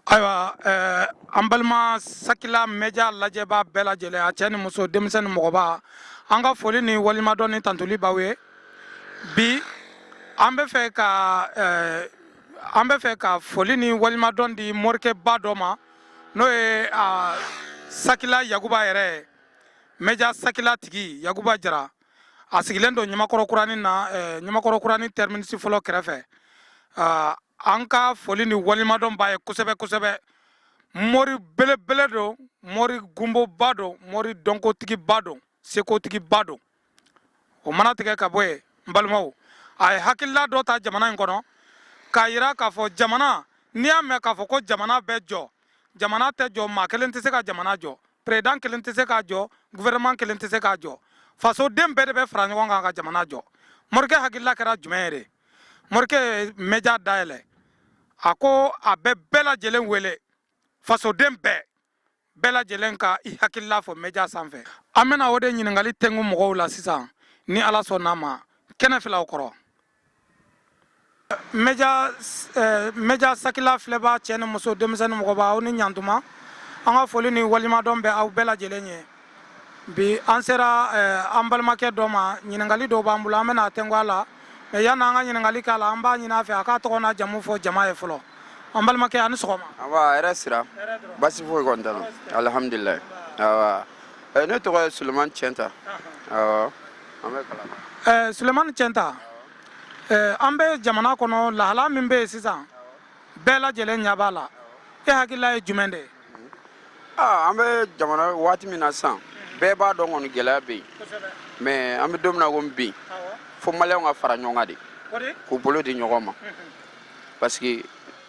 ayiwa eh, an balima sakila mɛja lajɛbaa bɛɛ lajɛlen a cɛ ni muso denmisɛn ni mɔgɔba an ka foli ni walimadɔn ni tantoli b'aw ye bi an bɛ fɛ ka eh, an bɛ fɛ ka foli ni walimadɔn di morikɛba dɔ ma n'o ye ah, sakila yakuba yɛrɛ ye mɛja sakila tigi yakuba jara a sigilen don ɲamakɔrɔ kuranin na eh, ɲamakɔrɔ kuranin tɛriminisi fɔlɔ kɛrɛfɛ ah, an ka foli ni walimadɔn b'a ye kosɛbɛ kosɛbɛ mɔri belebele don mɔri gunboba don mɔri dɔnkotigiba don sekotigiba don o mana tigɛ ka bɔ yen n balimaw a ye hakilila dɔ ta jamana in kɔnɔ k'a yira k'a fɔ jamana n'i y'a mɛn k'a fɔ ko jamana bɛ jɔ jamana tɛ jɔ maa kelen tɛ se ka jamana jɔ président kelen tɛ se k'a jɔ gouvernement kelen tɛ se k'a jɔ fasoden bɛɛ de bɛ fara ɲɔgɔn kan ka jamana jɔ morikɛ hakilila kɛra jumɛn ye de morikɛ ye mɛja dayɛlɛ a ko a bɛ bɛɛ lajɛlen wele fasoden bɛɛ bɛɛ lajɛlen ka i hakilila fɔ mɛja sanfɛ an bɛna o de ɲininkali tɛngu mɔgɔw la sisan ni ala sɔnn'a ma kɛnɛ filaw kɔrɔ mɛja sakila filɛbaa cɛ ni muso denmisɛn ni mɔgɔba aw ni ɲantuma an ka foli ni walimadɔn bɛ aw bɛɛ lajɛlen ye bi an sera an balimakɛ dɔ ma ɲininkali dɔw b'an bolo an bɛna a tɛngu a la mais yann'an ka ɲininkali k'a la an b'a ɲini a fɛ a k'a tɔgɔ n'a jamu fɔ jama ye fɔlɔ an balimakɛ a ni sɔgɔma hɛrɛ sira baasi alihamdulilayi ne tɔgɔ ye sulemani cɛnta ɛɛ sulemani cɛnta ɛɛ an bɛ jamana kɔnɔ lahala min bɛ yen sisan bɛɛ lajɛlen ɲɛ b'a la e hakilila ye jumɛn de ye. Ah, an bɛ jamana waati min na sisan bɛɛ b'a dɔn kɔni gɛlɛya bɛ yen mais an bɛ don min na komi bi fo maliyɛnw ka fara ɲɔgɔn kan de k'u bolo di ɲɔgɔn ma parce que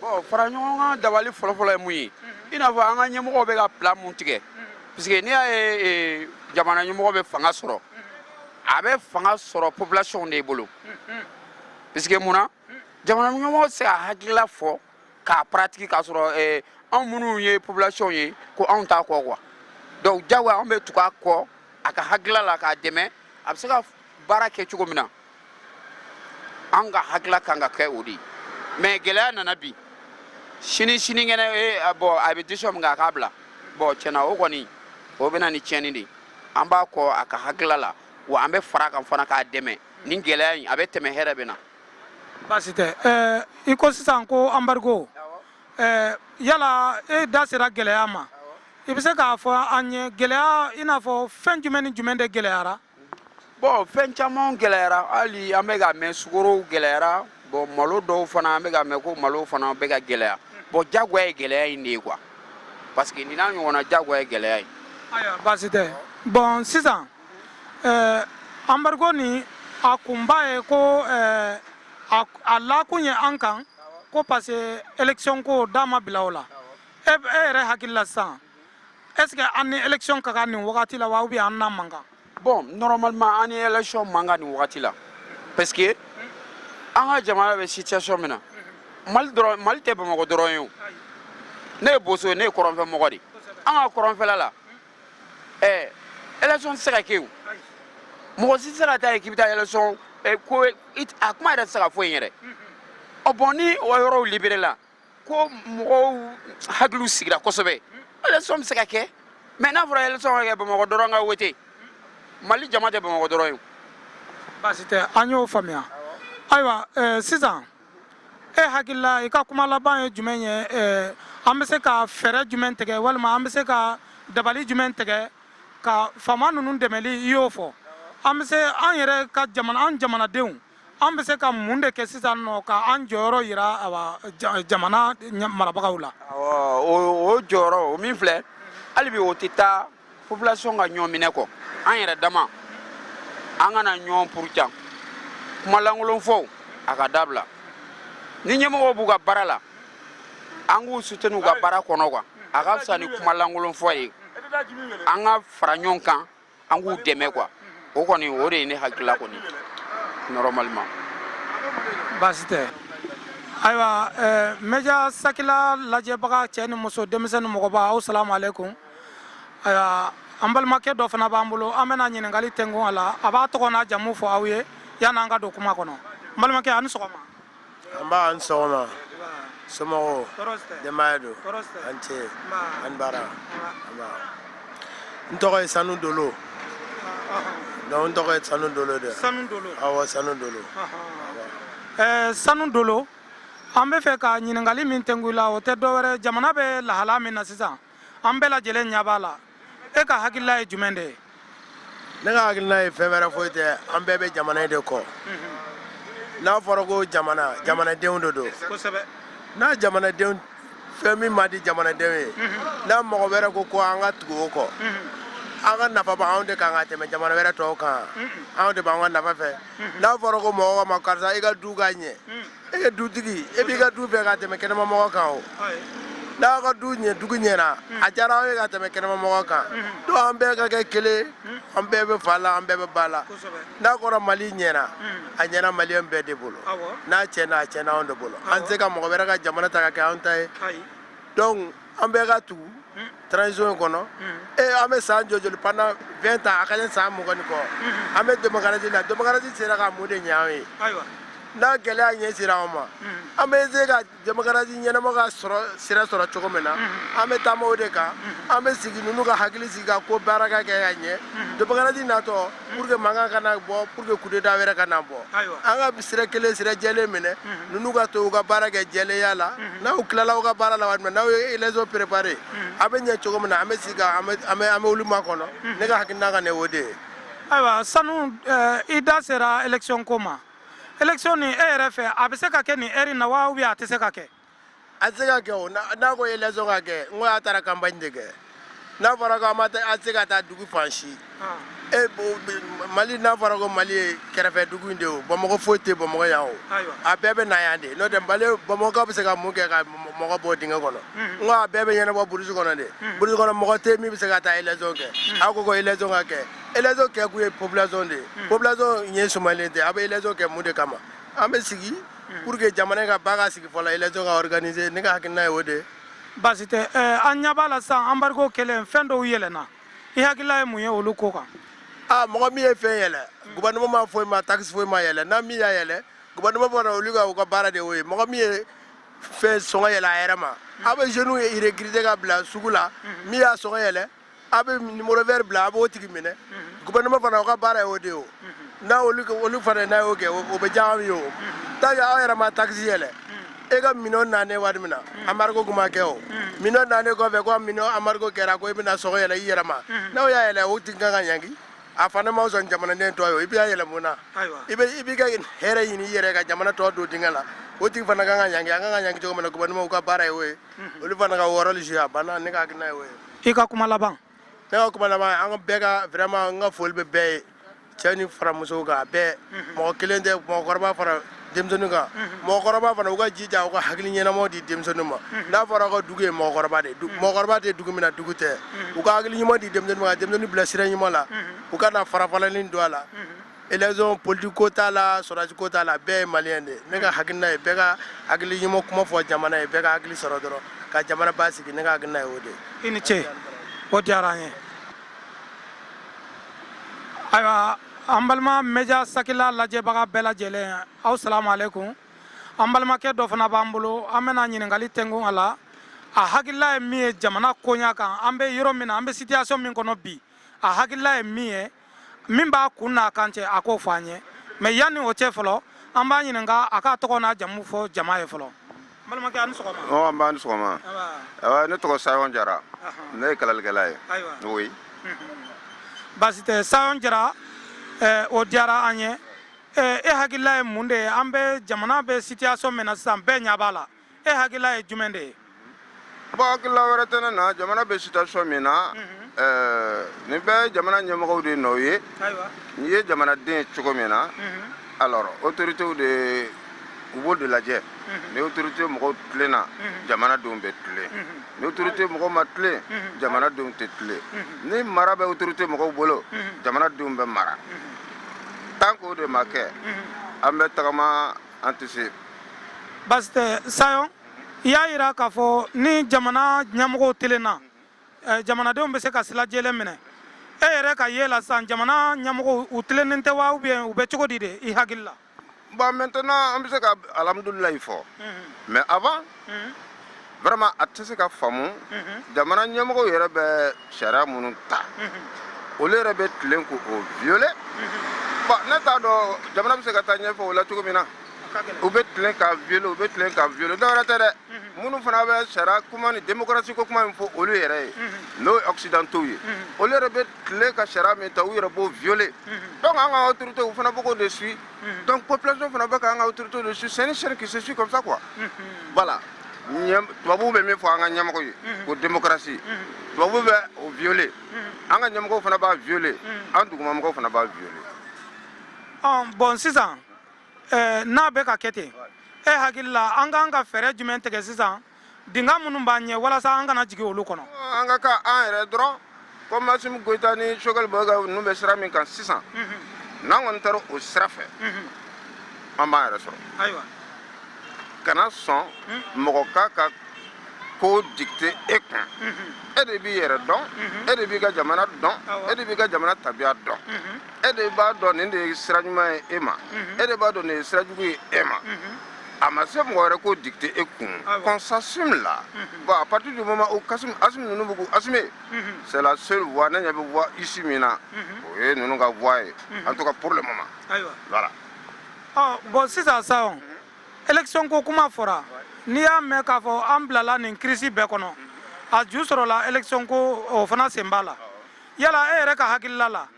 bon fara ɲɔgɔn kan dabali fɔlɔfɔlɔ ye mun ye i n'a fɔ an ka ɲɛmɔgɔw bɛ ka plan mun tigɛ parce que n'i y'a ye e, jamana ɲɛmɔgɔ bɛ fanga sɔrɔ a bɛ fanga sɔrɔ population de bolo parce que mun na jamana ɲɛmɔgɔ tɛ se ka hakilila fɔ k'a pratique k'a sɔrɔ e, anw minnu ye population ye ko anw t'a kɔ quoi donc jagoya anw bɛ tugu a kɔ a ka hakilila la k'a dɛmɛ a bɛ se ka baara kɛ cogo min na an ka hakila kan ka kɛ o de ye mais gɛlɛya nana bi sini sinikɛnɛ eh, bon a bɛ décision min kɛ a k'a bila bon tiɲɛ na o kɔni o bɛ na ni tiɲɛni de ye an b'a kɔ a ka hakila la wa an bɛ fara a kan fana k'a dɛmɛ nin gɛlɛya in a bɛ tɛmɛ hɛrɛ bɛ na baasi tɛ ɛɛ i ko sisan ko embargo ɛɛ yala e da sera gɛlɛya ma i bɛ se k'a fɔ an ye gɛlɛya i n'a fɔ fɛn jumɛn ni jumɛn de gɛlɛyara bon fɛn caman gɛlɛyara hali an bɛ k'a mɛn sukarow gɛlɛyara bon malo dɔw fana an bɛ k'a mɛn ko malo fana bɛ ka gɛlɛya bon jagoya ye gɛlɛya in de ye quoi parce que nin n'a ɲɔgɔnna jagoya ye gɛlɛya ye ayiwa baasi tɛ bon sisan ɛɛ embargo nin a kunba ye ko ɛɛ a a lakun ye an kan ko parce que élection ko da ma bila o la e e yɛrɛ hakili la sisan est-ce que an ni élection ka kan nin wagati la wa ou bien an n'a man kan bon normalement an ni élection man kan nin wagati la parce que an ka jamana bɛ situation min na mali tɛ bamakɔ dɔrɔn ye o ne ye boso ye ne ye kɔrɔnfɛ mɔgɔ de an ka kɔrɔnfɛla la ɛɛ élection tɛ se ka kɛ o mɔgɔ si tɛ se ka taa yen k'i bɛ taa élection ko a kuma yɛrɛ tɛ se ka fɔ yen yɛrɛ ɔ bon ni o yɔrɔw libéré la ko mɔgɔw hakiliw sigira kosɛbɛ élection bɛ se ka kɛ mais n'a fɔra élection ka kɛ bamakɔ dɔrɔn ka wote mali jama tɛ bamakɔ dɔrɔn ye baasi tɛ an y'o faamuya ayiwa eh, sisan e hakilila i ka kuma laban ye jumɛn ye eh, an bɛ se ka fɛɛrɛ jumɛn tigɛ walima an bɛ se ka dabali jumɛn tigɛ ka faama ninnu dɛmɛli i y'o fɔ an bɛ se an yɛrɛ ka jamana an jamanadenw an bɛ se ka mun de kɛ sisan nɔ ka an jɔyɔrɔ yira jamana marabagaw la o jɔyɔrɔ o min filɛ hali bi o tɛ taa population ka ɲɔgɔn minɛ kɔ an yɛrɛ dama an kana ɲɔgɔn buruja kumalankolon fɔ a ka dabila ni ɲɛmɔgɔw b'u ka baara la an k'u soutenir u ka baara kɔnɔ kan a ka fisa ni kumalankolon fɔ ye an ka fara ɲɔgɔn kan an k'u dɛmɛ quoi o kɔni o de ye ne hakilila kɔni normalement baasi tɛ ayiwa média sakila lajɛbaga cɛ ni muso denmisɛn ni mɔgɔba aw salamu aleykum ayiwa an balimakɛ dɔ fana b'an bolo an bɛna ɲininkali tɛnku a la a b'a tɔgɔ n'a jamu fɔ aw ye yanni an ka don kuma kɔnɔ balimakɛ a ni sɔgɔma nba a ni sɔgɔma somɔgɔw denbaya don a ni ce a ni baara n tɔgɔ ye sanu dolo donc n tɔgɔ ye sanu dolo de sanu dolo awɔ sanu dolo eh, sanu dolo an bɛ fɛ ka ɲininkali min tɛnku i la o tɛ dɔwɛrɛ jamana bɛ lahala min na sisan an bɛɛ lajɛlen ɲɛ b'a la e ka hakilila ye jumɛn de ye ne ka hakilina ye fɛn wɛrɛ foyi tɛ an bɛɛ bɛ jamana in de kɔ n'a fɔra ko jamana jamanadenw de don kosɛbɛ n'a jamanadenw fɛn min ma di jamanadenw ye n'a mɔgɔ wɛrɛ ko ko an ka tugu o kɔ an ka nafa b' anw de kan ka tɛmɛ jamana wɛrɛ tɔw kan anw de b'an ka nafa fɛ n'a fɔra ko mɔgɔ ma karisa i ka du ka ɲɛ e ye dutigi e b'i ka du fɛ ka tɛmɛ kɛnɛmamɔgɔ kan o n'aw ka du dugu ɲɛna hmm. a diyara anw ye ka tɛmɛ kɛnɛmamɔgɔ kan hmm. donc an bɛɛ ka kɛ kelen hmm. an bɛɛ bɛ fa la an bɛɛ bɛ ba la n'a kɔrɔ mali ɲɛna a ɲɛna maliyɛn bɛɛ de bolo n'a cɛna a cɛna anw de bolo an tɛ se ka mɔgɔ wɛrɛ ka jamana ta ka kɛ anw ta ye donc an bɛɛ ka tugu transition in kɔnɔ ee an bɛ san joli pendant vingt ans a ka san mugan ni kɔ an bɛ démocratie la démocratie sera ka mun de ɲɛ an ye n'a gɛlɛya ɲɛ sera an ma an bɛ se ka démocratie ɲɛnama ka sira sɔrɔ cogo min na an bɛ taama o de kan an bɛ sigi ninnu ka hakili sigi ka ko baara ka kɛ ka ɲɛ démocratie natɔ pour que mankan kana bɔ pour que coup d'état wɛrɛ kana bɔ an ka sira kelen sira jɛlen minɛ mhm. ninnu ka to u ka baara kɛ jɛlenya la mhm. n'u tilala u ka baara la waati min n'u ye élection préparé mhm. a bɛ ɲɛ cogo min na an bɛ sigi ka an bɛ an bɛ olu makɔnɔ ne ka hakilina ka ne o de ye ayiwa sanu eh, i da sera élection ko ma élection nin e yɛrɛ fɛ a bɛ se ka kɛ nin heure in na wa ou bien a tɛ se ka kɛ a tɛ se ka kɛ o n'a ko élection ka kɛ n ko a taara campagne de kɛ n'a fɔra ko a ma a tɛ se ka taa dugu fan si e mali n'a fɔra ko mali ye kɛrɛfɛ dugu in de o bamakɔ foyi tɛ bamakɔ yan o a bɛɛ bɛ na yan de n'o tɛ mali bamakɔ bɛ se ka mun kɛ ka mɔgɔ bɔ dingɛ kɔnɔ n ko a bɛɛ bɛ ɲɛnabɔ burusi kɔnɔ de burusi kɔnɔ mɔgɔ tɛ min bɛ se ka taa élection kɛ a ko ko élection ka kɛ élection kɛ kun ye population de ye population ɲɛ sumalen tɛ a bɛ élection kɛ mun de kama an bɛ sigi pour que jamana ka ba ka sigi fɔlɔ élection ka organiser ne ka hakilina ye o de ye baasi tɛ eh, an ɲɛ b'a la sisan embargo kɛlen fɛn dɔw yɛlɛnna i hakilila ye mun ye olu ko kan aa mɔgɔ min ye fɛn yɛlɛ gouvernement ma foyi ma taxe foyi ma yɛlɛ n'a min y'a yɛlɛ gouvernement fana olu ka u ka baara de y'o ye mɔgɔ min ye fɛn sɔngɔ yɛlɛ a yɛrɛ ma aw bɛ jeunes ye recruter ka bila sugu la min y'a sɔngɔ yɛlɛ aw bɛ numéro vert bila a b'o tigi minɛ gouvernement fana u ka baara ye o de ye o n'a olu olu fana n'a y'o kɛ o bɛ diya anw ye o tant que aw yɛrɛ ma taxe yɛlɛ e ka minɛn nanen waati min na embargo tun ma kɛ o minɛn nanen kɔfɛ ko minɛn embargo kɛra ko e bɛna sɔngɔ yɛlɛ i yɛrɛ ma n'aw y'a yɛlɛ o tigi ka kan ka ɲangi a fana ma sɔn jamanaden tɔ ye o i b'a yɛlɛ mun na i bɛ i b'i ka hɛrɛ ɲini i yɛrɛ ka jamana tɔ don dingɛ la o tigi fana ka kan ka ɲangi a ka kan ka ɲangi cogo min na gouvernement ka baara ye o ye olu fana ka u rôle jouer a banna ne ka hakilina ye o ye i ka kuma laban ne ka kuma laban an bɛɛ ka vraiment n ka foli bɛ bɛɛ ye cɛ ni fara musow kan a bɛɛ mɔgɔ kelen tɛ mɔgɔkɔrɔba fara denmisɛnninw kan mɔgɔkɔrɔba fana u ka jija u ka hakili ɲɛnamaw di denmisɛnninw ma n'a fɔra ko dugu ye mɔgɔkɔrɔba de ye du- mɔgɔkɔrɔba tɛ dugu min na dugu tɛ u ka hakili ɲuman di denmisɛnninw ma ka denmisɛnninw bila sira ɲuman la u kana farafalani don a la élection politique ko t'a la sɔrɔdasi ko t'a la bɛɛ ye maliyɛn de ne ka hakilina ye bɛɛ ka hakili ɲuman kuma fɔ jamana ye bɛɛ ka hakili sɔrɔ dɔrɔn ka jamana basigi ne ka hakilina ye o de i ni ce o diyara an ye ayiwa an balima média sakila lajɛbaga bɛɛ lajɛlen aw salamu alaikum an balimakɛ dɔ fana b'an bolo an bɛna ɲininkali tɛkun a la a hakilila ye min ye jamana koɲa kan an bɛ yɔrɔ min na an bɛ situation min kɔnɔ bi a hakilila ye min ye min b'a kun n'a kan cɛ a k'o fɔ an ye mais yanni o cɛ fɔlɔ an b'a ɲininka a k'a tɔgɔ n'a jamu fɔ jama ye fɔlɔ balimakɛ a ni sɔgɔma nba a ni sɔgɔma ne tɔgɔ sayɔn jara ne ye kalalikɛla ye ayiwa basi tɛ sayɔn jara o diyara an ye e hakilila ye mun de ye an bɛ jamana bɛ situation min na sisan bɛɛ ɲɛ b'a la e hakilila ye jumɛn de ye bon hakilila wɛrɛ tɛ ne na jamana bɛ situation min na ɛɛ nin bɛɛ jamana ɲɛmɔgɔw de nɔ ye ayiwa n'i ye jamanaden ye cogo min na alors autorités de u b'o de lajɛ ni autorité mɔgɔw tilenna jamanadenw bɛ tilen ni autorité mɔgɔw ma tilen jamanadenw tɛ tilen ni mara bɛ autorité mɔgɔw bolo jamanadenw bɛ mara tant que o de ma kɛ an bɛ tagama an tɛ se basi tɛ sayɔn i y'a yira k'a fɔ ni jamana ɲɛmɔgɔw telenna eh, jamanadenw bɛ se ka sira jɛlen minɛ e yɛrɛ ka ye la sisan jamana ɲɛmɔgɔw u tilennen tɛ wa ou bien u bɛ cogo di de i hakili la bon maintenant an bɛ se ka alhamdulilayi fɔ mais avant vraiment a tɛ se ka faamu jamana ɲɛmɔgɔw yɛrɛ bɛ sariya minnu ta olu yɛrɛ bɛ tilen k'o violer bon ne t'a dɔn jamana bɛ se ka taa ɲɛfɛ o la cogo min na u bɛ tilen ka violer u bɛ tilen ka violer dɔwɛrɛ tɛ dɛ minnu fana bɛ sariya kuma ni démocratie ko kuma min fɔ olu yɛrɛ ye n'o ye occidentaux ye olu yɛrɛ bɛ tilen ka sariya min ta u yɛrɛ b'o violer donc an ka autorités u fana bɛ k'o de suit donc population fana bɛ k'an ka autorité de suit c'est une chaîne qui se suit comme ça quoi voilà tubabu bɛ min fɔ an ka ɲamɔgɔ ye ko démocratie tubabu bɛ o violer an ka ɲamɔgɔw fana b'a violer an dugumamɔgɔw fana b'a violer bon sisan n'a bɛ ka kɛ ten e hakili la an ka kan ka fɛɛrɛ jumɛn tigɛ sisan dinga minnu b'an ɲɛ walasa an kana jigin olu kɔnɔ an ka kɛ an yɛrɛ dɔrɔn comme Assimi Goïta ni Choguel Maïga ninnu bɛ sira min kan sisan mhm. n'an kɔni taara o sira fɛ mhm. an b'an yɛrɛ sɔrɔ ayiwa kana sɔn mhm. mɔgɔ k'a ka ko dicter e kun e de b'i yɛrɛ dɔn e de b'i ka jamana dɔn e de b'i ka jamana tabiya dɔn e de b'a dɔn nin de ye sira ɲuman ye e ma e de b'a dɔn nin ye sira jugu ye e ma a ma se mɔgɔ wɛrɛ k'o dicter e kun qu'on s'assume là bon à partir du moment où Assi Assimi ninnu bɛ k'u assumer c'est la seule voie ne ɲɛ bɛ voie issue min na o ye ninnu ka voie ye en tout cas pour le moment voilà bon sisan Sayon élection ko kuma fɔra n'i y'a mɛn k'a fɔ an bilala nin crise bɛɛ kɔnɔ a ju sɔrɔla élection ko o fana sen b'a la yala e yɛrɛ ka hakilila la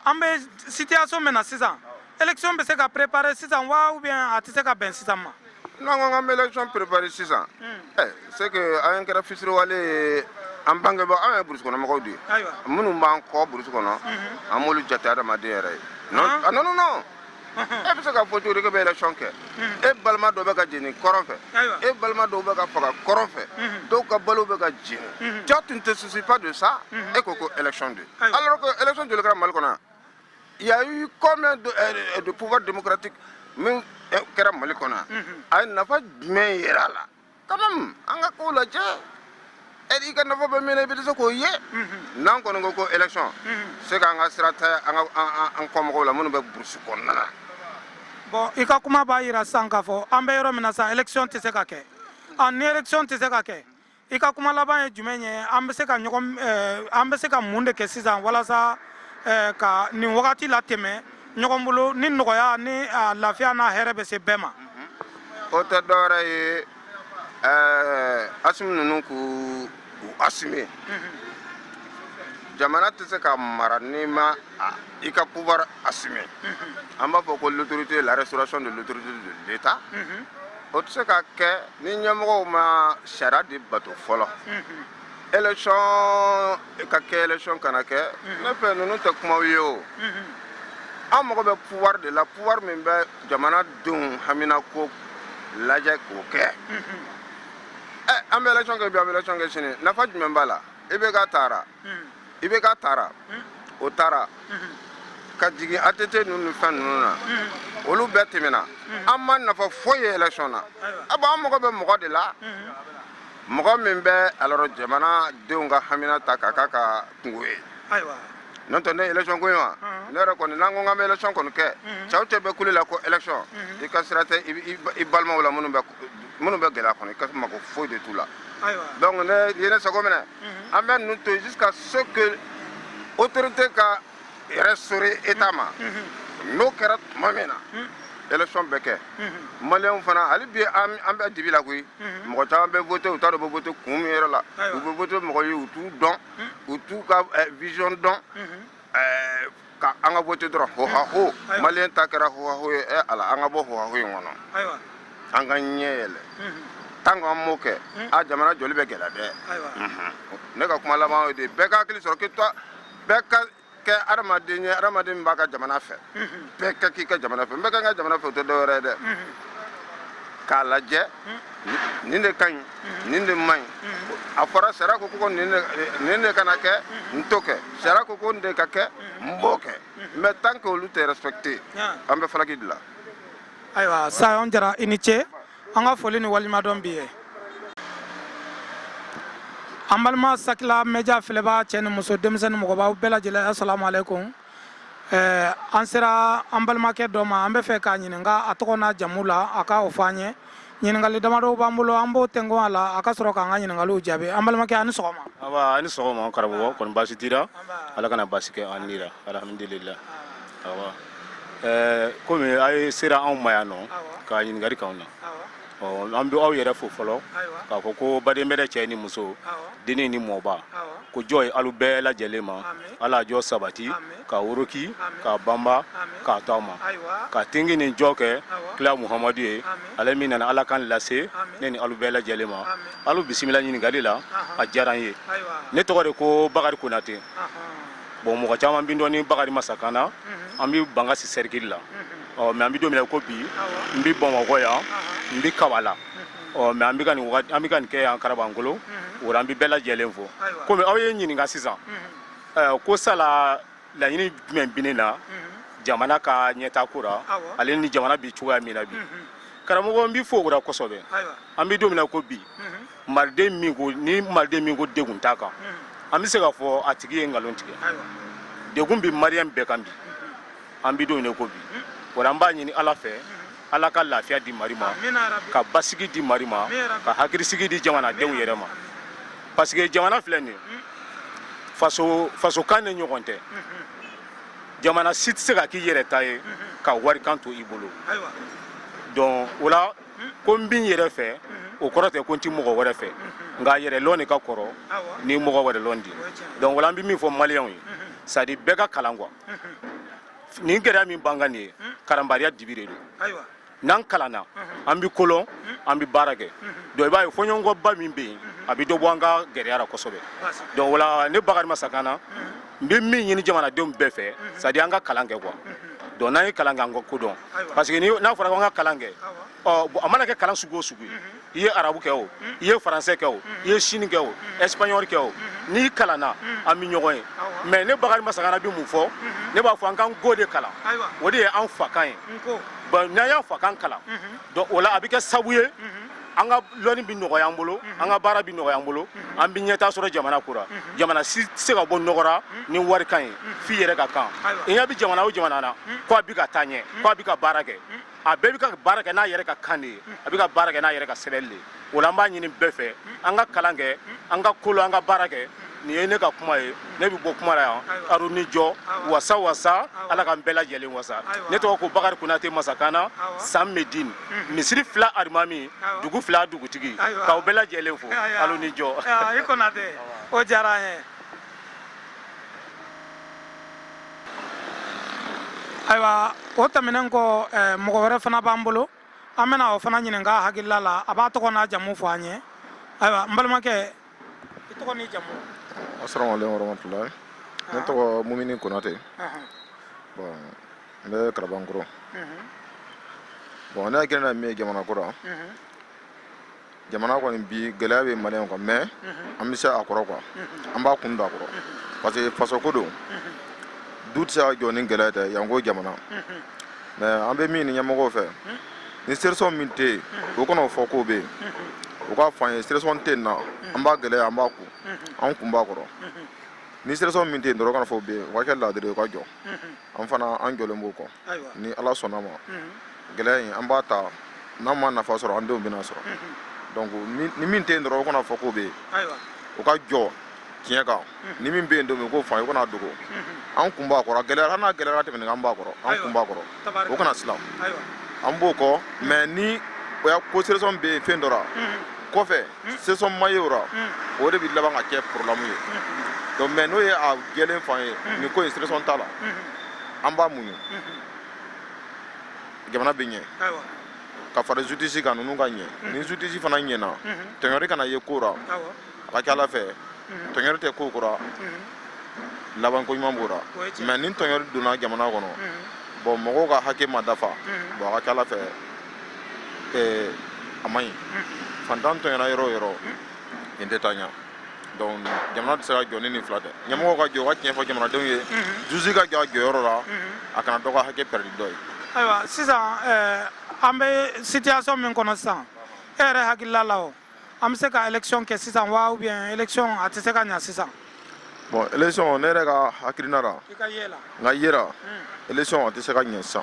an bɛ situation min na sisan élection bɛ se ka préparer sisan wa ou bien a tɛ se ka bɛn sisan ma. n'an ko k'an bɛ élection préparer sisan. ɛ c'est que an kɛra fitiriwale ye an bangebaa an ye burusi kɔnɔmɔgɔw de ye. ayiwa minnu b'an kɔ burusi kɔnɔ. an m'olu jate adamaden yɛrɛ ye. non non non. e bɛ se ka fɔ cogo di k'e bɛ élection kɛ e balima dɔw bɛ ka jeni kɔrɔn fɛ e balima dɔw bɛ ka faga kɔrɔn fɛ dɔw ka balo bɛ ka jeni toi tu ne te soucies pas de ça e ko ko élection de alors que élection joli kɛra mali kɔnɔ yan il y a eu combien de pouvoir démocratique min kɛra mali kɔnɔ yan a ye nafa jumɛn jira a la Quand même an ka kow lajɛ i ka nafa bɛ min na i bɛ se k'o ye n'an kɔni ko ko élection c'est qu'an ka sira t'an kɔmɔgɔw la minnu bɛ burusi kɔnɔna na bon i ka kuma b'a jira sisan k'a fɔ an bɛ yɔrɔ min na sa élection tɛ se ka kɛ ni élection tɛ se ka kɛ i ka kuma laban ye jumɛn ye an bɛ se ka an bɛ se ka mun de kɛ sisan walasa ka nin wagati latɛmɛ ɲɔgɔn bolo ni nɔgɔya ni lafiya n'a hɛrɛ bɛ se bɛɛ ma o tɛ dɔwɛrɛ ye Assimi ninnu k'u assumer jamana tɛ se ka mara n'i ma i ka pouvoir assumer an b'a fɔ ko l'autorité la restauration de l'autorité de l'État o tɛ se ka kɛ ni ɲɛmɔgɔw ma sariya de bato fɔlɔ Élection ka kɛ élection kana kɛ ne fɛ ninnu tɛ kumaw ye o an mago bɛ pouvoir de la pouvoir min bɛ jamanadenw haminako lajɛ k'o kɛ an bɛ élection kɛ bi an bɛ élection kɛ sini nafa jumɛn b'a la IBK taara IBK taara o taara ka jigin ATT ninnu ni fɛn ninnu na olu bɛɛ tɛmɛna an ma nafa foyi ye élection na ah bon an mago bɛ mɔgɔ de la mɔgɔ min bɛ alors jamana denw ka hamina ta k'a k'a ka kunko ye ayiwa n'o tɛ ne ye élection ko in wa ne yɛrɛ kɔni n'an ko k'an bɛ élection kɔni kɛ cɛ o cɛ bɛ kule la ko élection i ka sira tɛ i balimaw la minnu bɛ minnu bɛ gɛlɛya kɔnɔ i ka mago foyi de t'u la donc ne ye ne sago minɛ an bɛ ninnu to yen jusqu'à ce que autorité ka restaurer état ma n'o kɛra tuma min na élection bɛ kɛ maliyɛnw fana hali bi an bɛ dibi la koyi mɔgɔ caman bɛ voter u t'a dɔn u bɛ voter kun min yɛrɛ la u bɛ voter mɔgɔ ye u t'u dɔn u t'u ka eh, vision dɔn eh, ka an ka voter dɔrɔn hohaho maliyɛn ta kɛra hohaho ye eh, ala an ka bɔ hohaho in kɔnɔ an ka ɲɛ yɛlɛ tant que an m'o kɛ a jamana jɔli bɛ gɛlɛya dɛ ne ka kuma laban y'o de ye bɛɛ ka hakili sɔrɔ k'i to bɛɛ ka kɛ adamaden ye adamaden min b'a ka jamana fɛ bɛɛ ka k'i ka jamana fɛ n bɛɛ ka n ka jamana fɛ o tɛ dɔwɛrɛ ye dɛ k'a lajɛ nin de ka ɲi nin de man ɲi a fɔra sariya ko ko nin de kana kɛ n t'o kɛ sariya ko ko nin de ka kɛ n b'o kɛ mais tant que olu tɛ respecter an bɛ falaki de la ayiwa sayon jara i ni ce an ka foli ni waleɲumandɔn bi ye an balima sakila média filɛbaa cɛ ni muso denmisɛn ni mɔgɔbaw bɛɛ lajɛlen asalamu aleykum eh, an sera an balimakɛ dɔ ma an bɛ fɛ k'a ɲininka a tɔgɔ n'a jamu la a ka o fɔ an ye ɲininkali damadɔw b'an bolo an b'o tɛnkun a la a ka sɔrɔ k'an ka ɲininkaliw jaabi an balimakɛ a ni sɔgɔma awa a ni sɔgɔma karamɔgɔ kɔni baasi t'i la ala kana baasi kɛ an ni la alhamdulillah awa Ɛɛ kɔmi a ye sera anw ma yan nɔ ka ɲininkali k'anw na an bɛ aw yɛrɛ fo fɔlɔ k'a fɔ ko baden bɛrɛ cɛ ni muso dennin ni mɔba ko jɔ ye alu bɛɛ lajɛlen ma ala jɔ sabati ka woroki ka banba k'a to aw ma ka tigi ni jɔ kɛ kila muhamadu ye ale min nana ala kan lase ne ni alu bɛɛ lajɛlen ma alu bisimila ɲininkali la a diyara n ye ne tɔgɔ de ko bakari konatɛ bon mɔgɔ caman bi n dɔn ni bakari masaka na an bi bankasi sɛrikili la ɔ mais an bi don min na ko bi n bi bamakɔ yan n bi kabala ɔ mais an bi an bi ka nin kɛ yan kalabankɔrɔ o la n bi bɛɛ lajɛlen fo komi aw ye ɲininka sisan ko sala laɲini jumɛn bi ne na jamana ka ɲɛtaa ko la ale ni jamana bi cogoya min na bi karamɔgɔ n b'i fo o la kosɛbɛ an bi don min na ko bi maliden min ko ni maliden min ko dɛgun t'a kan an bɛ se k'a fɔ a tigi ye nkalon tigɛ dɛgun bi mariyɛn bɛɛ kan bi an bi don min na ko bi o la an b'a ɲini ala fɛ ala ka lafiya di mari ma ka basigi di mari ma ka hakilisigi di jamanadenw yɛrɛ ma parce que jamana filɛ nin ye faso fasokan ni ɲɔgɔn tɛ jamana si tɛ se ka k'i yɛrɛ ta ye ka walikan to i bolo donc o la ko n bi n yɛrɛ fɛ o kɔrɔ tɛ ko n tɛ mɔgɔ wɛrɛ fɛ nka yɛrɛlɔn de ka kɔrɔ ni mɔgɔ wɛrɛ lɔn di donc o la an bɛ min fɔ maliyɛnw ye c'est-à-dire bɛɛ ka kalan quoi nin gɛlɛya min b'an kan nin ye kalanbaliya dibi de don n'an kalanna an bɛ ko lɔn an bɛ baara kɛ donc i b'a ye fɔɲɔgɔnkɔba min bɛ yen a bɛ dɔ bɔ an ka gɛlɛya ra kosɛbɛ donc o la ne bakari masakana n bɛ min ɲini jamanadenw bɛɛ fɛ c'est-à-dire an ka kalan kɛ quoi donc n'an ye kalan kɛ an ka ko dɔn parce que n'a fɔra ko an ka kalan kɛ a mana kɛ kalan sugu o sugu ye i ye arabu kɛ o i ye faransɛ kɛ o i ye sini kɛ o espagnol kɛ o n'i kalanna an bɛ ɲɔgɔn ye mais ne bakari masakana bɛ mun fɔ ne b'a fɔ an ka nko de kalan o de ye an fakan ye bon n'an y'an fakan kalan donc o la a bɛ kɛ sabu ye an ka lɔni bɛ nɔgɔya an bolo mhm. an ka baara bɛ nɔgɔya an bolo mhm. an bɛ ɲɛtaa sɔrɔ jamana ko ra mhm. jamana si tɛ se ka bɔ nɔgɔ ra ni wali kan ye f'i yɛrɛ ka kan i ɲɛ bɛ jamana o jamana na ko a bɛ ka taa ɲɛ ko a bɛ ka baara kɛ a bɛɛ bɛ ka baara kɛ n'a yɛrɛ ka kan de ye a bɛ ka baara kɛ n'a yɛrɛ ka sɛbɛnni de ye o la an b'a ɲini bɛɛ fɛ an ka kalan kɛ an ka ko lɔn an ka baara kɛ nin ye ne ka kuma ye ne bɛ bɔ kuma la yan aru ni jɔ wasa wasa ala k'an bɛɛ lajɛlen wasa ne tɔgɔ ko bakari konate masakana san medin misiri fila alimami dugu fila dugutigi k'aw bɛɛ lajɛlen fo aru ni jɔ i konate o diyara an ye ayiwa o tɛmɛnen kɔ eh, mɔgɔ wɛrɛ fana b'an bolo an bɛna o fana ɲininka a hakilila la a b'a tɔgɔ n'a jamu fɔ an ye ayiwa n balimakɛ i tɔgɔ n'i jamu asalaamu aleykum warahmatulahi ne ah. tɔgɔ mumini konate bon n bɛ kalabankɔrɔ bon ne hakilina min ye jamana ko la jamana kɔni bi gɛlɛya bɛ maliyɛnw kan mais an bɛ se a kɔrɔ quoi an b'a kun don a kɔrɔ parce que fasoko don du tɛ se ka jɔ ni gɛlɛya tɛ janko jamana mais an bɛ min ɲini ɲɛmɔgɔw fɛ ni solution min tɛ yen o kana o fɔ k'o bɛ yen u k'a fɔ an ye solution tɛ yen na an b'a gɛlɛya an b'a kun an kun b'a kɔrɔ ni solution min tɛ yen dɔrɔn o kana fɔ o bɛ yen o ka kɛ laadiri ye o ka jɔ an fana an jɔlen b'o kɔ ni ala sɔnna a ma gɛlɛya in an b'a ta n'an ma nafa sɔrɔ an denw bɛn'a sɔrɔ donc ni min tɛ yen dɔrɔn o kana fɔ k'o bɛ yen o ka jɔ tiɲɛ kan ni min bɛ yen don min k'o fɔ an ye o kan'a dogo an kun b'a kɔrɔ gɛlɛya hali n'a gɛlɛyara tɛmɛn an b'a kɔrɔ an kun b'a kɔrɔ o kana siran an b'o kɔ mais ni o y'a ko solution bɛ yen fɛn dɔ ra kɔfɛ solution ma ye o ra o de bɛ laban ka kɛ problème ye donc mais n'o ye a jɛlen fɔ an ye nin ko in solution t'a la an b'a muɲu jamana bɛ ɲɛ ka fara justice kan ninnu ka ɲɛ ni justice fana ɲɛna tɔɲɔri kana ye ko ra a ka ca ala fɛ tɔɲɔli tɛ ko o ko la laban ko ɲuman b'o la mais ni tɔɲɔli donna jamana kɔnɔ bon mɔgɔw ka hakɛ ma dafa bon a ka ca ala fɛ a man ɲi fantan tɔɲɔra yɔrɔ o yɔrɔ nin tɛ taa ɲɛ donc jamana tɛ se ka jɔ ni nin fila tɛ ɲamɔgɔw ka jɔ ka tiɲɛ fɔ jamanadenw ye justice ka jɔ a jɔyɔrɔ la a kana dɔ ka hakɛ pɛrɛdi dɔ ye ayiwa sisan an bɛ situation min kɔnɔ sisan e yɛrɛ hakilila la an bɛ se ka election kɛ sisan wa ou bien election a tɛ se ka ɲɛ sisan. bon election ne yɛrɛ ka hakilina la. i ka ye la. n ka ye la. election a tɛ se ka ɲɛ sisan.